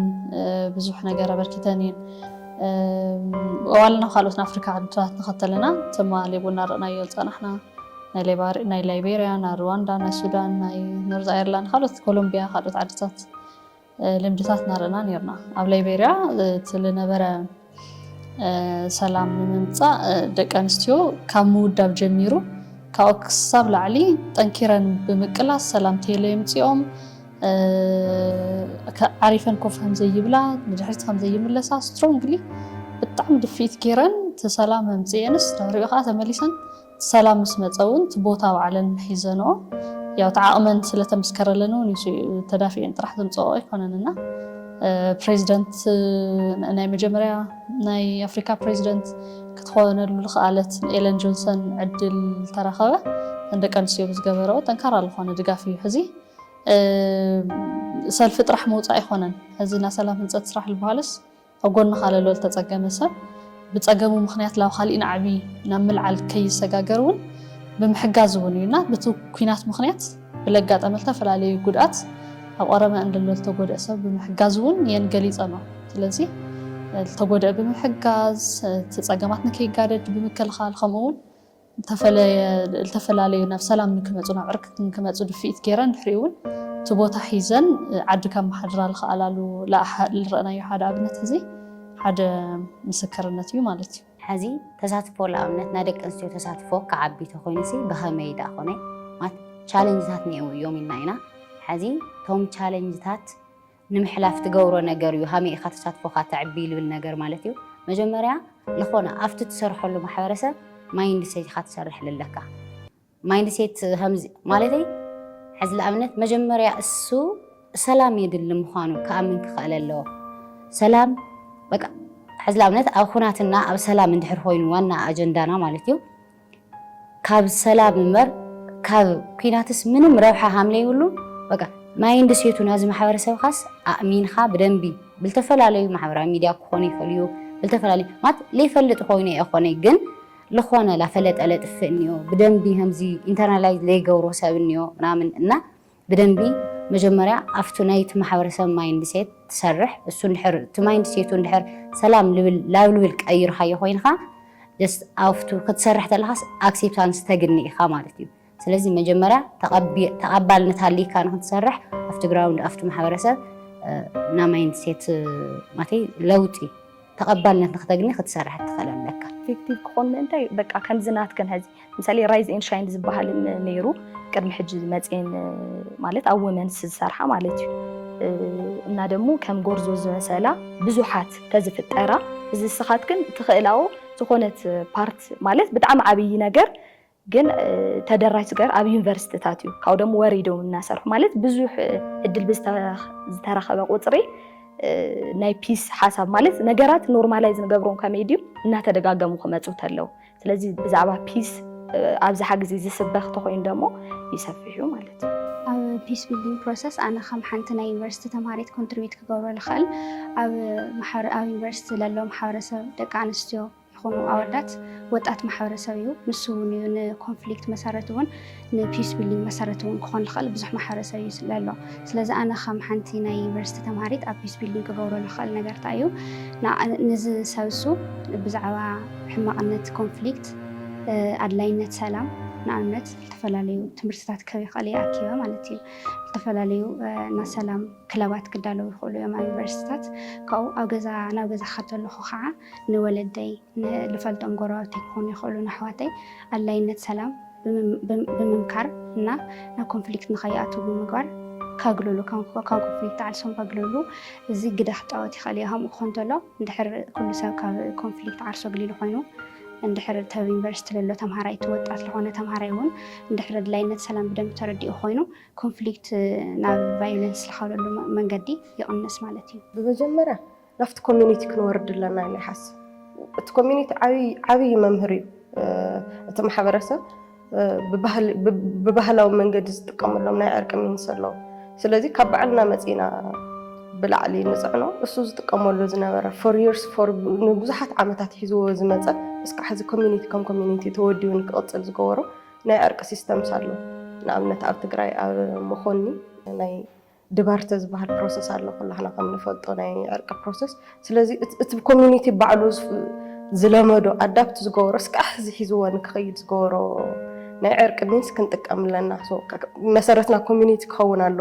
C: ብዙሕ ነገር ኣበርኪተን እየን። ዋልና ካልኦት ናይ ኣፍሪካ ዓድታት ንኸተለና ትማሊ እውን እናረእናዮ ዝፀናሕና ናይ ላይቤሪያ፣ ናይ ሩዋንዳ፣ ናይ ሱዳን፣ ናይ ኖርዝ ኣየርላንድ፣ ካልኦት ኮሎምቢያ፣ ካልኦት ዓድታት ልምድታት ናርና ነርና ኣብ ላይቤርያ እቲ ልነበረ ሰላም ንምምፃእ ደቂ ኣንስትዮ ካብ ምውዳብ ጀሚሩ ካብኡ ክሳብ ላዕሊ ጠንኪረን ብምቅላስ ሰላም ቴሎ የምፅኦም ዓሪፈን ኮፍ ከምዘይብላ ንድሕሪት ከምዘይምለሳ ስትሮንግሊ ብጣዕሚ ድፍኢት ገይረን እቲ ሰላም መምፅኤንስ ድሕሪኡ ከዓ ተመሊሰን ሰላም ምስ መጸ እውን እቲ ቦታ ባዕለን ሒዘንኦ ያው እቲ ዓቕመን ስለ ተመስከረለን እውን እዩ ተዳፊኤን ጥራሕ ዘምጸኦ ኣይኮነን እና ፕሬዚደንት ናይ መጀመርያ ናይ ኣፍሪካ ፕሬዚደንት ክትኾነሉ ዝኸኣለት ኤለን ጆንሰን ዕድል ተረኸበ ንደቂ ኣንስትዮ ብዝገበረኦ ጠንካራ ዝኾነ ድጋፍ እዩ ሕዚ ሰልፊ ጥራሕ ምውፃእ ኣይኮነን ሕዚ ናይ ሰላም ህንፀት ስራሕ ዝበሃልስ ኣብ ጎንኻ ለሎ ልተጸገመ ሰብ ብጸገሙ ምኽንያት ላብ ኻሊእ ናዕቢ ናብ ምልዓል ከይሰጋገር እውን ብምሕጋዝ እውን እዩ እና ብቲ ኩናት ምኽንያት ብለጋጠመ ልተፈላለዩ ጉድኣት ኣብ ቐረመ እንደሎ ልተጎድእ ሰብ ብምሕጋዝ እውን የን ገሊጸኖ ስለዚ ልተጎድእ ብምሕጋዝ እቲ ጸገማት ንከይጋደድ ብምክልኻል ከምኡ እውን ዝተፈለየ ልተፈላለዩ ናብ ሰላም ንክመጹ ናብ ዕርቂ ንክመጹ ድፍኢት ገይረን ድሕሪኡ ውን እቲ ቦታ ሒዘን ዓዲ ከመሓድራ ልኸኣላሉ ልረእናዮ ሓደ ኣብነት ሕዚ ሓደ ምስክርነት እዩ ማለት እዩ። ሕዚ ተሳትፎ
E: ልኣብነት ናይ ደቂ ኣንስትዮ ተሳትፎ ክዓቢ ተኾይኑሲ ብኸመይ ድኣ ኮነ ማለት ቻለንጅታት ኔእዉ እዮም ኢልና ኢና። ሕዚ እቶም ቻለንጅታት ንምሕላፍ ትገብሮ ነገር እዩ ሃመይ ኢኻ ተሳትፎኻ ተዕቢ ልብል ነገር ማለት እዩ መጀመርያ ልኾነ ኣብቲ ትሰርሐሉ ማሕበረሰብ ማይንድ ሴት ኢኻ ትሰርሕ ልለካ ማይንድ ሴት ከምዚ ማለተይ ሕዚ ንኣብነት መጀመርያ እሱ ሰላም የድሊ ምዃኑ ክኣምን ክኸእል ኣለዎ ሰላም በቃ ሕዚ ንኣብነት ኣብ ኩናትና ኣብ ሰላም እንድሕር ኮይኑ ዋና ኣጀንዳና ማለት እዩ ካብ ሰላም እምበር ካብ ኩናትስ ምንም ረብሓ ሃምለይብሉ በቃ ማይንድ ሴቱ ናዚ ማሕበረሰብኻስ ኣእሚንኻ ብደንቢ ብልተፈላለዩ ማሕበራዊ ሚዲያ ክኾኑ ይፈልዩ ብልተፈላለዩ ማለት ለይፈልጥ ኮይኑ የኾነይ ግን ለኾነ ላፈለጠ ለጥፍእ እኒኦ ብደንቢ ከምዚ ኢንተርናላይዝ ለይገብሮ ሰብ እኒኦ ምናምን እና ብደንቢ መጀመርያ ኣብቱ ናይቲ ማሕበረሰብ ማይንድ ሴት ትሰርሕ እሱ እንድሕር እቲ ማይንድ ሴቱ እንድሕር ሰላም ልብል ላብ ልብል ቀይርካዮ ኮይንካ ጀስት ኣብቱ ክትሰርሕ ተለካስ ኣክሴፕታንስ ተግኒ ኢካ ማለት እዩ ስለዚ መጀመርያ ተቐባልነት ሃልይካ ንክትሰርሕ ኣብቲ ግራውንድ ኣብቲ ማሕበረሰብ እና ማይንድ ሴት ማለተይ ለውጢ ተቐባልነት ንክተግኒ ክትሰርሕ ትኽእል ኣለካ። ኢፌክቲቭ ክኾን ምእንታይ
F: እዩ በቃ ከምዚ ናትክን ሕዚ ምሳሌ ራይዝ ኤን ሻይን ዝበሃል ነይሩ ቅድሚ ሕጂ ዝመፅኤን ማለት ኣብ ወመንስ ዝሰርሓ ማለት እዩ እና ደግሞ ከም ጎርዞ ዝመሰላ ብዙሓት ተዝፍጠራ እዚ ስኻት ግን ትኽእላዎ ዝኾነት ፓርት ማለት ብጣዕሚ ዓብዪ ነገር ግን ተደራሽ ዝገበር ኣብ ዩኒቨርሲቲታት እዩ ካብኡ ደሞ ወሪዶም እናሰርሑ ማለት ብዙሕ እድል ብዝተረኸበ ቁፅሪ ናይ ፒስ ሓሳብ ማለት ነገራት ኖርማላይዝ ንገብሮም ከመይ ድዩ እናተደጋገሙ ክመፁ ተለው ስለዚ ብዛዕባ ፒስ ኣብዝሓ ግዜ ዝስበኽ ተኮይኑ ደሞ ይሰፍሕ እዩ ማለት እዩ ኣብ ፒስ ቢልዲንግ
D: ፕሮሰስ ኣነ ከም ሓንቲ ናይ ዩኒቨርሲቲ ተምሃሪት ኮንትሪቢት ክገብሮ ዝኽእል ኣብ ዩኒቨርሲቲ ለሎ ማሕበረሰብ ደቂ ኣንስትዮ ይኹኑ ኣወዳት ወጣት ማሕበረሰብ እዩ ንሱ እውን እዩ ንኮንፍሊክት መሰረት እውን ንፒስ ቢልዲንግ መሰረት እውን ክኾን ልኽእል ብዙሕ ማሕበረሰብ እዩ ስለ ኣሎ ስለዚ ኣነ ከም ሓንቲ ናይ ዩኒቨርሲቲ ተምሃሪት ኣብ ፒስ ቢልዲንግ ክገብሮ ልኽእል ነገር እንታይ እዩ ንዚ ሰብሱ ብዛዕባ ሕማቕነት ኮንፍሊክት ኣድላይነት ሰላም ንኣብነት ዝተፈላለዩ ትምህርትታት ክህብ ይኽእል እየ ኣኪበ ማለት እዩ ዝተፈላለዩ ናይ ሰላም ክለባት ክዳለዉ ይኽእሉ እዮም ኣብ ዩኒቨርሲቲታት ካብኡ ኣብ ገዛ ናብ ገዛ ከተለኹ ከዓ ንወለደይ፣ ንልፈልጦም ጎረባብተይ ክኾኑ ይኽእሉ ንኣሕዋተይ ኣድላይነት ሰላም ብምምካር እና ናብ ኮንፍሊክት ንኸይኣትዉ ብምግባር ከግልሉ ካብ ኮንፍሊክት ዓርሶም ከግልሉ እዚ ግደ ክፃወት ይኽእል እዩ። ከምኡ ክኾን ተሎ እንድሕር ኩሉ ሰብ ካብ ኮንፍሊክት ዓርሶ ኣግሊሉ ኮይኑ እንድሕር እቲ ኣብ ዩኒቨርሲቲ ለሎ ተምሃራይ እቲ ወጣት ዝኾነ ተምሃራይ እውን እንድሕር ኣድላይነት ሰላም ብደንብ ተረዲኡ ኮይኑ ኮንፍሊክት ናብ ቫዮለንስ ዝኸለሉ መንገዲ ይቕንስ ማለት እዩ። ብመጀመርያ
A: ናብቲ ኮሚኒቲ ክንወርድ ኣለና ኢለ ይሓስብ እቲ ኮሚኒቲ ዓብዪ መምህር እዩ እቲ ማሕበረሰብ ብባህላዊ መንገዲ ዝጥቀመሎም ናይ ዕርቂ ሚንስ ኣለዉ ስለዚ ካብ ባዕልና መፂና ብላዕሊ ንፅዕኖ እሱ ዝጥቀመሉ ዝነበረ ፎር ርስ ንብዙሓት ዓመታት ሒዝዎ ዝመፀ እስካዕ ሕዚ ኮሚኒቲ ከም ኮሚኒቲ ተወዲቡ ንክቕፅል ዝገበሮ ናይ ዕርቂ ሲስተምስ ኣሎ ንኣብነት ኣብ ትግራይ ኣብ መኾኒ ናይ ድባርተ ዝበሃል ፕሮሰስ ኣሎ ኩላህና ከም ንፈልጦ ናይ ዕርቂ ፕሮሰስ። ስለዚ እቲ ኮሚኒቲ ባዕሉ ዝለመዶ ኣዳፕት ዝገበሮ እስካዕ ሕዚ ሒዝዎ ንክኸይድ ዝገበሮ ናይ ዕርቂ ሚንስ ክንጥቀም ኣለና። መሰረትና ኮሚኒቲ ክኸውን ኣሎ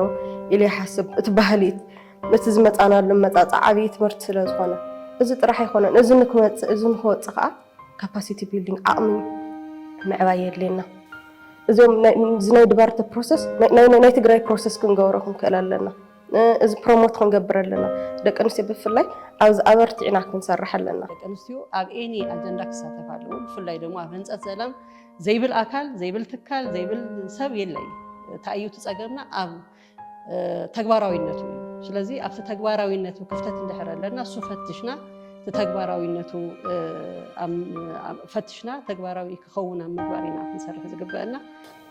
A: ኢለ ይሓስብ። እቲ ባህሊ እቲ ዝመፃናሉ መፃፃ ዓብዪ ትምህርቲ ስለዝኾነ እዚ ጥራሕ ኣይኮነን እዚ ንክመፅእ እዚ ንክወፅእ ከዓ ካፓሲቲ ቢልዲንግ ዓቕሚ ምዕባይ የድልየና። እዚኦም እዚ ናይ ድባርተ ፕሮሰስ ናይ ትግራይ ፕሮሰስ ክንገብሮ ክንክእል ኣለና። እዚ ፕሮሞት ክንገብር ኣለና። ደቂ ኣንስትዮ ብፍላይ ኣብዚ ኣበርቲዕና ክንሰርሕ ኣለና። ደቂ ኣንስትዮ ኣብ
B: ኤኒ ኣጀንዳ ክሳተፍ ኣለዎ። ብፍላይ ደግሞ ኣብ ህንፀት ሰላም ዘይብል ኣካል ዘይብል ትካል ዘይብል ሰብ የለ እዩ። እንታይ እዩ እቲ ፀገምና ኣብ ተግባራዊነቱ እዩ ስለዚ ኣብቲ ተግባራዊነቱ ክፍተት እንድሕር ኣለና እሱ ፈትሽና እቲ ተግባራዊነቱ ፈትሽና ተግባራዊ ክኸውን ኣብ ምግባር ኢና ክንሰርሕ ዝግበአና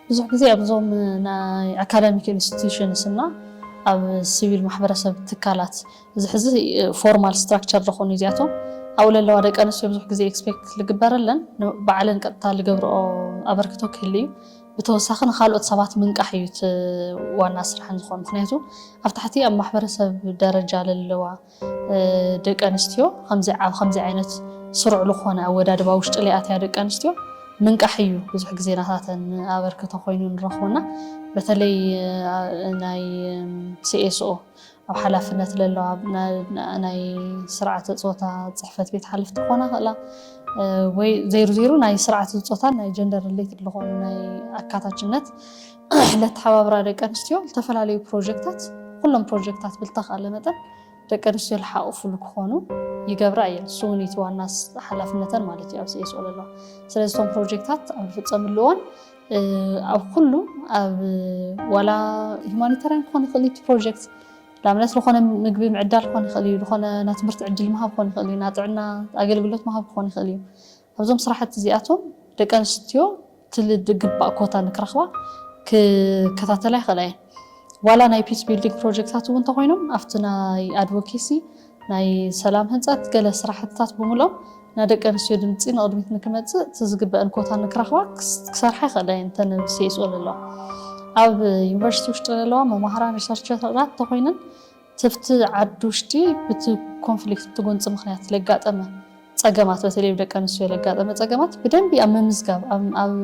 B: ብዙሕ ግዜ
C: ኣብዞም ናይ ኣካዳሚክ ኢንስቲትዩሽንስ እና ኣብ ሲቪል ማሕበረሰብ ትካላት እዚ ሕዚ ፎርማል ስትራክቸር ዝኾኑ እዚኣቶም ኣብኡ ለለዋ ደቂ ኣንስትዮ ብዙሕ ግዜ ኤክስፔክት ዝግበረለን ባዕለን ቀጥታ ዝገብርኦ ኣበርክቶ ክህል እዩ ብተወሳኺ ንካልኦት ሰባት ምንቃሕ እዩ እቲ ዋና ስራሕን ዝኾን ምክንያቱ ኣብ ታሕቲ ኣብ ማሕበረሰብ ደረጃ ለለዋ ደቂ ኣንስትዮ ከምዚ ዓይነት ስሩዕ ልኾነ ኣወዳድባ ውሽጢ ለይኣትያ ደቂ ኣንስትዮ ምንቃሕ እዩ ብዙሕ ግዜ ናታተን ኣበርክቶ ኮይኑ ንረኽቦና በተለይ ናይ ሲኤስኦ ኣብ ሓላፍነት ለለዋ ናይ ስርዓተ ፆታ ፅሕፈት ቤት ሓለፍቲ ክኾና ይኽእላ ወይ ዘይሩ ዘይሩ ናይ ስርዓተ ፆታን ናይ ጀንደር ሪሌትድ ዝኾኑ ናይ ኣካታችነት ለተሓባብራ ደቂ ኣንስትዮ ዝተፈላለዩ ፕሮጀክታት ኩሎም ፕሮጀክታት ብልተኻለ መጠን ደቂ ኣንስትዮ ዝሓቑፍሉ ክኾኑ ይገብራ እየን እሱ እውን እቲ ዋና ሓላፍነተን ማለት እዩ ኣብ ሲኤስኦ ለለዋ ስለዚ እቶም ፕሮጀክታት ኣብ ዝፍፀምሉ እዋን ኣብ ኩሉ ኣብ ዋላ ሁማኒታርያን ክኾን ይኽእል እዩ እቲ ፕሮጀክት ንኣብነት ዝኾነ ምግቢ ምዕዳል ክኾን ይኽእል እዩ ዝኾነ ናይ ትምህርቲ ዕድል ምሃብ ክኾን ይኽእል እዩ ናይ ጥዕና ኣገልግሎት ምሃብ ክኾን ይኽእል እዩ ኣብዞም ስራሕቲ እዚኣቶም ደቂ ኣንስትዮ እቲ ዝግባእ ኮታ ንክረኽባ ክከታተላ ይኽእላ እየን። ዋላ ናይ ፒስ ቢልዲንግ ፕሮጀክታት እውን እንተኾይኖም ኣብቲ ናይ ኣድቮኬሲ ናይ ሰላም ህንፀት ገለ ስራሕትታት ብምልኦም ናይ ደቂ ኣንስትዮ ድምፂ ንቕድሚት ንክመፅእ እቲ ዝግበአን ኮታ ንክረኽባ ክሰርሓ ይኽእላ እየን እተን ኣብ CSO ዘለዋ ኣብ ዩኒቨርሲቲ ውሽጢ ዘለዋ መማህራን ሪሰርቸራት እንተኾይነን ትብቲ ዓዲ ውሽጢ ብቲ ኮንፍሊክት ብቲ ጎንፂ ምክንያት ለጋጠመ ፀገማት በተለይ ብደቂ ኣንስትዮ ለጋጠመ ፀገማት ብደንቢ ኣብ ምምዝጋብ ኣብ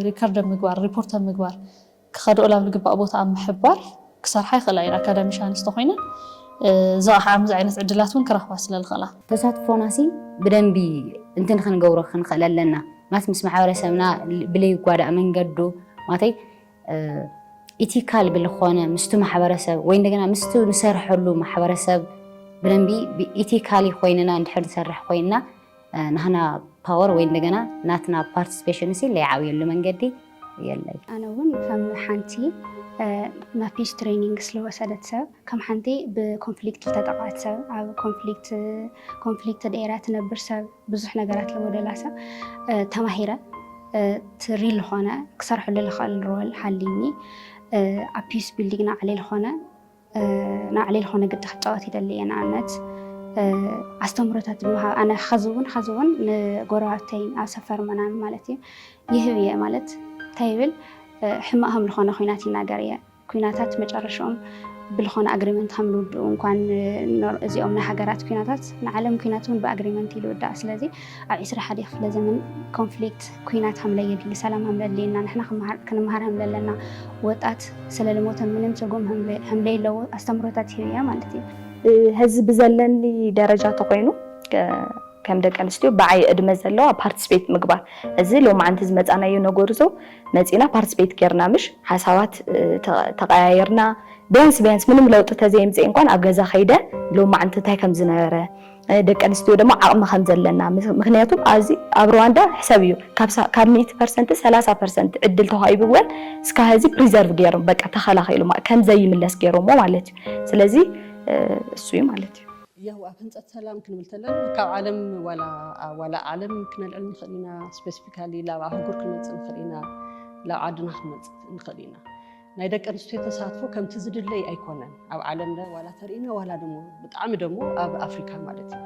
C: ሪከርድ ኣብ ምግባር ሪፖርት ኣብ ምግባር ክኸደኦ ላብ ልግባእ ቦታ ኣብ ምሕባር ክሰርሓ ይኽእላ እየን፣ ኣካዳሚሻንስ ተኾይነን ዝቐሓ ኣምዚ ዓይነት ዕድላት እውን ክረኽባ ስለ ልኽእላ። ተሳትፎና ሲ
E: ብደንቢ እንትን ኽንገብሮ ኽንኽእል ኣለና ማት ምስ ማሕበረሰብና ብለይጓዳእ መንገዱ ማተይ ኢቲካል ብልኾነ ምስቱ ማሕበረሰብ ወይ እንደገና ምስቱ ንሰርሐሉ ማሕበረሰብ ብደንቢ ኢቲካሊ ኾይንና እንድሕር ንሰርሕ ኾይንና ናህና ፓወር ወይ እንደገና ናትና ፓርቲስፔሽን ሲ ለይዓብየሉ መንገዲ የለይ። ኣነ እውን ከም
D: ሓንቲ ማፒጅ ትሬኒንግ ስለወሰደት ሰብ ከም ሓንቲ ብኮንፍሊክት ዝተጠቃት ሰብ ኣብ ኮንፍሊክት ኮንፍሊክት ደራ ትነብር ሰብ ብዙሕ ነገራት ለወደላ ሰብ ተማሂረ ትሪ ዝኾነ ክሰርሐሉ ልኽእል ሮል ሃሊኒ ኣብ ፒስ ቢልዲንግ ናዕሊ ዝኾነ ናዕሌ ልኾነ ግዲ ክጫወት ይደሊ እየ ንኣብነት ኣስተምሮታት ምሃብ ኣነ ኸዚ እውን ኸዚ እውን ንጎረባብተይ ኣብ ሰፈር ምናምን ማለት እዩ ይህብ እየ ማለት እንታይ ይብል ሕማቅ ከም ዝኾነ ኩናት ይናገር እየ ኩናታት መጨረሻኦም ብልኾነ ኣግሪመንት ከም ልውድኡ እንኳን እዚኦም ናይ ሃገራት ኩናታት ንዓለም ኩናት እውን ብኣግሪመንት ይልውዳእ ስለዚ ኣብ ዕስራ ሓደ ክፍለ ዘመን ኮንፍሊክት ኩናት ሃምለ የድሊ ሰላም ሃምለ ኣድልየና ንሕና ክመሃር ክንመሃር ሃምለ ኣለና ወጣት ስለልሞተ ምንም ትርጉም ሃምለ ሃምለ የለዎ ኣስተምሮታት ይህብ እያ ማለት እዩ። ሀዚ
F: ብዘለኒ ደረጃ ተኾይኑ ከም ደቂ ኣንስትዮ ብዓይ እድመ ዘለዋ ፓርቲስፔት ምግባር እዚ ሎማዓንቲ ዝመፃናዮ ነገርዞ መፂና ፓርቲስፔት ገይርና ምሽ ሓሳባት ተቀያይርና ቢያንስ ቢያንስ ምንም ለውጢ ተዘየምፅኤ እንኳን ኣብ ገዛ ከይደ ሎማዓንቲ እንታይ ከምዝነበረ ደቂ ኣንስትዮ ደማ ዓቕሚ ከም ዘለና ምኽንያቱ ኣዚ ኣብ ርዋንዳ ሕሰብዮ ካብ ካብ ሚእቲ ፐርሰንት ሰላሳ ፐርሰንት ዕድል ተዋሂብወን እስካ ሀዚ ፕሪዘርቭ ገይሮም በቃ ተኸላኺሉ ከም ዘይምለስ ገይሮሞ ማለት እዩ ስለዚ እሱ እዩ ማለት እዩ። ያው ኣብ ህንፀት ሰላም
B: ክንብል ተለና ካብ ዓለም ዋላ ዋላ ዓለም ክነልዕል ንኽእል ኢና ስፔሲፊካሊ ላብ ኣህጉር ክንመፅእ ንኽእል ኢና ላብ ዓድና ክንመፅእ ንኽእል ኢና ናይ ደቂ ኣንስትዮ ተሳትፎ ከምቲ ዝድለይ ኣይኮነን ኣብ ዓለምለ ዋላ ተርእና ዋላ ደሞ ብጣዕሚ ደሞ ኣብ ኣፍሪካ ማለት እዩ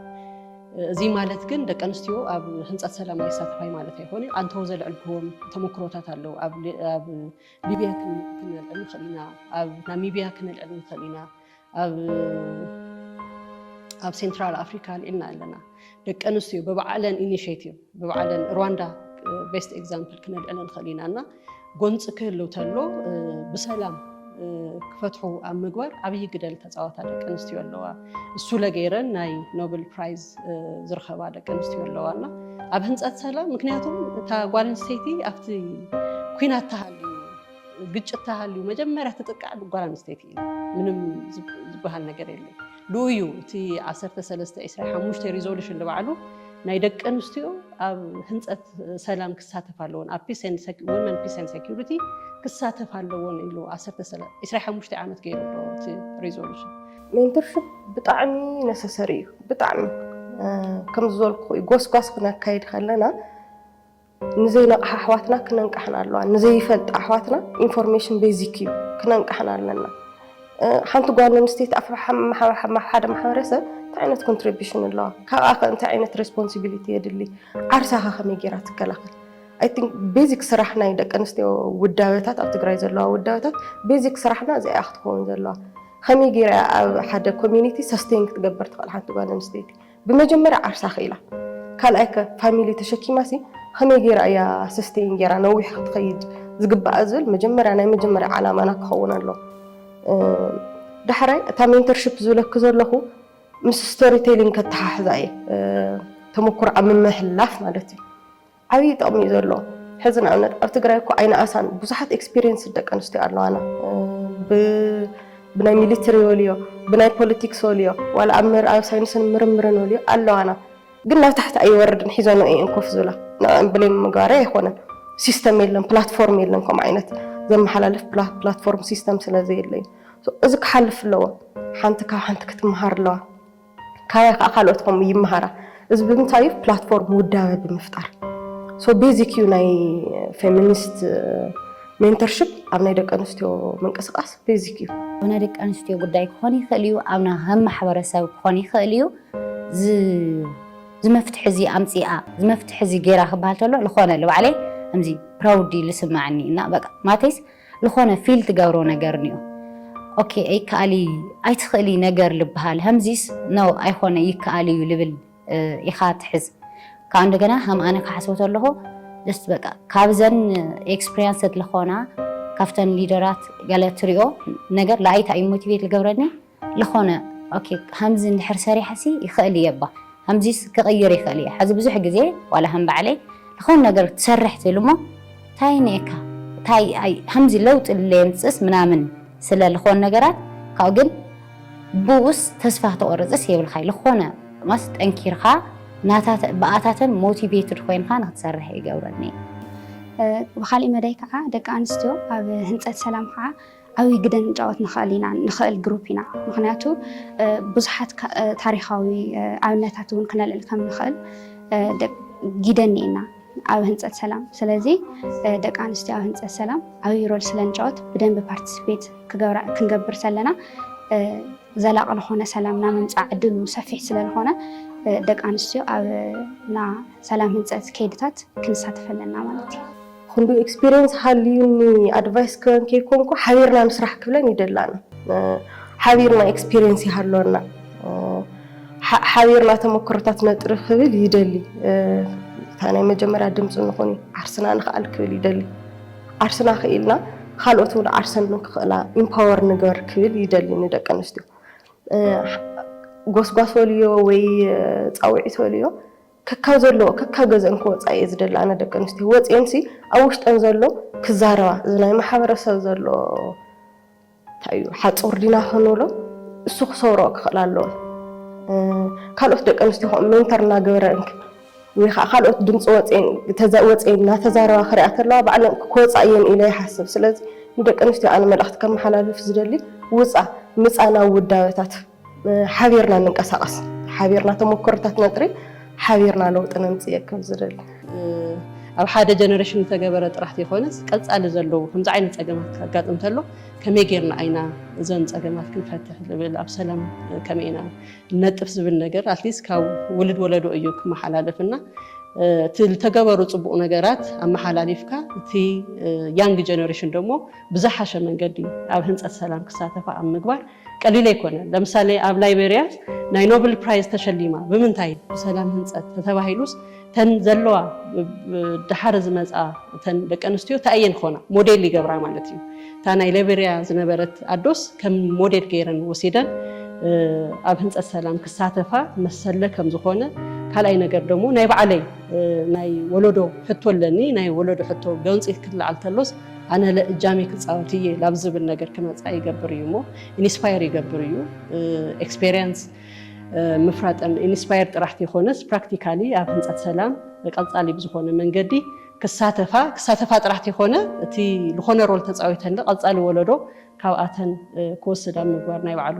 B: እዚ ማለት ግን ደቂ ኣንስትዮ ኣብ ህንፀት ሰላም ኣይሳተፋይ ማለት ኣይኮነ ኣንተው ዘልዕልክዎም ተመክሮታት ኣለዉ ኣብ ሊብያ ክንልዕል ንኽእል ኢና ኣብ ናሚብያ ክንልዕል ንኽእል ኢና ኣብ ሴንትራል ኣፍሪካ ኣልዒልና ኣለና ደቂ ኣንስትዮ ብባዕለን ኢኒሽቲቭ ብባዕለን ሩዋንዳ ቤስት ኤግዛምፕል ክነልዕለ ንኽእል ኢና እና ጎንፂ ክህሉ ተሎ ብሰላም ክፈትሑ ኣብ ምግባር ዓብዪ ግደል ተፃዋታ ደቂ ኣንስትዮ ኣለዋ እሱ ለገይረን ናይ ኖብል ፕራይዝ ዝረኸባ ደቂ ኣንስትዮ ኣለዋ እና ኣብ ህንፀት ሰላም ምክንያቱም እታ ጓል ኣንስተይቲ ኣብቲ ኩናት ተሃልዩ ግጭት ተሃልዩ መጀመርያ ትጥቃዕ ጓል ኣንስተይቲ እዩ ምንም ዝበሃል ነገር የለ ልኡ እዩ እቲ 1325 ሪዞሉሽን ንባዕሉ ናይ ደቂ ኣንስትዮ ኣብ ህንፀት ሰላም ክሳተፍ ኣለዎን ኣብ ወመን ፒስ ን ሴኪሪቲ ክሳተፍ ኣለዎን ኢሉ 25 ዓመት ገይሩ እቲ ሪዞሉሽን ሜንተርሽፕ
A: ብጣዕሚ ነሰሰሪ እዩ ብጣዕሚ ከምዝበልኩ እዩ ጎስጓስ ክነካይድ ከለና ንዘይነቕሓ ኣሕዋትና ክነንቃሕን ኣለዋ ንዘይፈልጣ ኣሕዋትና ኢንፎርሜሽን ቤዚክ እዩ ክነንቃሕን ኣለና ሓንቲ ጓል ኣንስተይቲ ኣብ ሓደ ማሕበረሰብ እንታይ ዓይነት ኮንትሪቢሽን ኣለዋ ካብኣ ከ እንታይ ዓይነት ሬስፖንሲቢሊቲ የድሊ ዓርሳ ከ ከመይ ጌራ ትከላኸል ኣይ ቲንክ ቤዚክ ስራሕ ናይ ደቂ ኣንስትዮ ውዳበታት ኣብ ትግራይ ዘለዋ ውዳበታት ቤዚክ ስራሕና እዚኣ ክትከውን ዘለዋ ከመይ ጌራ ኣብ ሓደ ኮሚኒቲ ሰስቴን ክትገብር ትኽእል ሓንቲ ጓል ኣንስተይቲ ብመጀመርያ ዓርሳ ክኢላ ካልኣይ ከ ፋሚሊ ተሸኪማ ሲ ከመይ ጌራ እያ ሰስተይን ጌራ ነዊሕ ክትኸይድ ዝግባኣ ዝብል መጀመርያ ናይ መጀመርያ ዓላማና ክኸውን ኣሎ ዳሕራይ እታ ሜንተርሽፕ ዝብለኪ ዘለኹ ምስ ስቶሪ ቴሊንግ ከተሓሕዛ እየ ተመኩሮ ኣብ ምምሕልላፍ ማለት እዩ። ዓብይ ጠቕሚ እዩ ዘሎ ሕዚ ንኣብነት ኣብ ትግራይ እኮ ኣይነኣሳን ብዙሓት ኤክስፒሪየንስ ደቂ ኣንስትዮ ኣለዋና ብናይ ሚሊትሪ ወልዮ ብናይ ፖለቲክስ ወልዮ ዋላ ኣብ ምርኣብ ሳይንስን ምርምርን ወልዮ ኣለዋና ግን ናብ ታሕቲ ኣይወርድን ሒዘንኦ እየን ኮፍ ዝብላ ንዕኦም ብሌም ምግባረይ ኣይኮነን ሲስተም የለን ፕላትፎርም የለን ከምኡ ዓይነት ዘመሓላልፍ ፕላትፎርም ሲስተም ስለ ዘየለ እዩ እዚ ክሓልፍ ኣለዎ ሓንቲ ካብ ሓንቲ ክትመሃር ኣለዋ ካያ ከኣ ካልኦት ከምኡ ይመሃራ እዚ ብምንታይ እዩ ፕላትፎርም ውዳበ ብምፍጣር ሶ ቤዚክ እዩ ናይ ፌሚኒስት ሜንተርሽፕ ኣብ ናይ ደቂ ኣንስትዮ ምንቅስቃስ ቤዚክ እዩ ናይ ደቂ ኣንስትዮ
E: ጉዳይ ክኾን ይኽእል እዩ ኣብና ከም ማሕበረሰብ ክኾን ይኽእል እዩ ዝመፍትሒ እዚ ኣምፂኣ ዝመፍትሒ እዚ ገይራ ክበሃል ተሎ ልኾነ ልባዕለይ ከምዚ ፕራውድሊ ልስመዐኒ እና በቃ ማለተይስ ልኾነ ፊል ትገብሮ ነገር ኒኦ ኦኬ ኣይከኣል እዪ ኣይትኽእሊ ነገር ልበሃል ሀምዚስ ነው ኣይኾነ ይከኣል እዩ ልብል ኢኻ ትሕዝ ካኣ እንደገና ሀም ኣነ ክሓስቦ ተለኹ ጀስት በቃ ካብዘን ኤክስፕሪያንሰት ልኾና ካብተን ሊደራት ገለ ትሪኦ ነገር ልኣይታ እዩ ሞቲቬት ልገብረኒ ልኾነ ኦኬ ሃምዚ እንድሕር ሰሪሐሲ ይኽእል እየ እባ ሃምዚስ ክቕይር ይኽእል እየ ሓዚ ብዙሕ ግዜ ዋላ ሃም ባዕለይ ልኾነ ነገር ትሰርሕ ትብል እሞ ታይ እኒኤካ ታይ ኣይ ሃምዚ ለውጢ ለየምፅእስ ምናምን ስለ ልኾን ነገራት ካብኡ ግን ብኡስ ተስፋ ክትቆርፅስ የብልካይ ልኾነ ማስ ጠንኪርካ ናታተ ብኣታተን ሞቲቬትድ ኮይንካ ንክትሰርሕ ይገብረኒ እዩ።
D: ብካሊእ መዳይ ከዓ ደቂ ኣንስትዮ ኣብ ህንፀት ሰላም ከዓ ዓብይ ግደ ንጫወት ንክእል ኢና ንክእል ግሩፕ ኢና ምክንያቱ ብዙሓት ታሪካዊ ኣብነታት እውን ክነልዕል ከም ንክእል ጊደ እኒኤና ኣብ ህንፀት ሰላም ስለዚ ደቂ ኣንስትዮ ኣብ ህንፀት ሰላም ዓብይ ሮል ስለንጫወት ብደንብ ፓርቲስፔት ክንገብር ዘለና ዘላቂ ለኾነ ሰላም ናብ ምምፃእ ዕድሉ ሰፊሕ ስለዝኾነ ደቂ ኣንስትዮ ኣብና ሰላም ህንፀት ከይድታት ክንሳተፍ ኣለና ማለት እዩ። ኹንዱ ኤክስፒሪየንስ
A: ሃልዩኒ ኣድቫይስ ክበን ከይኮንኩ ሓቢርና ንስራሕ ክብለን ይደላኒ ሓቢርና ኤክስፒሪየንስ ይሃልወና ሓቢርና ተመክሮታት ነጥሪ ክብል ይደሊ እታ ናይ መጀመርያ ድምፂ ንኹን ዓርስና ንኽኣል ክብል ይደሊ ዓርስና ክኢልና ካልኦት እውን ዓርሰን ንክኽእላ ኢምፓወር ንገር ክብል ይደሊ ንደቂ ኣንስትዮ ጎስጓስ ወልዮ ወይ ፃውዒት ወልዮ ከካብ ዘለዎ ከካብ ገዝኤን ክወጻ እየ ዝደሊ ኣነ ደቂ ኣንስትዮ ወጽኤን ሲ ኣብ ውሽጠን ዘሎ ክዛረባ እዚ ናይ ማሕበረሰብ ዘሎ እንታይ እዩ ሓጹር ዲና ክንብሎ እሱ ክሰብሮ ክኽእል ኣለዎ ካልኦት ደቂ ኣንስትዮ ከምኡ ሜንተር እናገበረን ወይ ከዓ ካልኦት ድምፂ ወፅኤን እናተዛረባ ክሪኣ ከለዋ ባዕለን ክወፃ እየን ኢለ ይሓስብ። ስለዚ ንደቂ ኣንስትዮ ኣነ መልእኽቲ ከመሓላልፍ ዝደሊ ውፃ ምፃ ናብ ውዳበታት ሓቢርና ንንቀሳቐስ፣ ሓቢርና ተሞክሮታት ነጥሪ፣ ሓቢርና ለውጢ ነምፅእ እየ ክብል ዝደሊ።
B: ኣብ ሓደ ጀነሬሽን ዝተገበረ ጥራሕ ዘይኮነስ ቀፃሊ ዘለዉ ከምዚ ዓይነት ፀገማት ከጋጥም ተሎ ከመይ ጌርና ኢና እዘን ፀገማት ክንፈትሕ ዝብል ኣብ ሰላም ከመይ ኢና ነጥፍ ዝብል ነገር ኣትሊስት ካብ ውልድ ወለዶ እዩ ክመሓላለፍ እና እቲ ዝተገበሩ ፅቡቕ ነገራት ኣመሓላሊፍካ እቲ ያንግ ጀነሬሽን ደግሞ ብዝሓሸ መንገዲ ኣብ ህንፀት ሰላም ክሳተፋ ኣብ ምግባር ቀሊል ኣይኮነን ለምሳሌ ኣብ ላይቤርያ ናይ ኖብል ፕራይዝ ተሸሊማ ብምንታይ ብሰላም ህንፀት ተተባሂሉስ እተን ዘለዋ ደሓር ዝመፃ እተን ደቂ ኣንስትዮ ታይ እየን ክኾና ሞዴል ይገብራ ማለት እዩ እታ ናይ ላይቤርያ ዝነበረት ኣዶስ ከም ሞዴል ገይረን ወሲደን ኣብ ህንፀት ሰላም ክሳተፋ መሰለ ከም ዝኾነ ካልኣይ ነገር ደሞ ናይ ባዕለይ ናይ ወለዶ ሕቶ ኣለኒ ናይ ወለዶ ሕቶ ገንፂ ክለዓል ተሎስ ኣነ ለእጃሚ ክፃወት እየ ላብ ዝብል ነገር ክመፃ ይገብር እዩ እሞ ኢንስፓየር ይገብር እዩ ኤክስፔሪንስ ምፍራጠን ኢንስፓየር ጥራሕ ተይኮነስ ፕራክቲካሊ ኣብ ህንፀት ሰላም ቀፃሊ ብዝኾነ መንገዲ ክሳተፋ ክሳተፋ ጥራሕ ተይኮነ እቲ ዝኾነ ሮል ተፃዊተን ቀፃሊ ወለዶ ካብኣተን ክወስድ ኣብ ምግባር ናይ ባዕሉ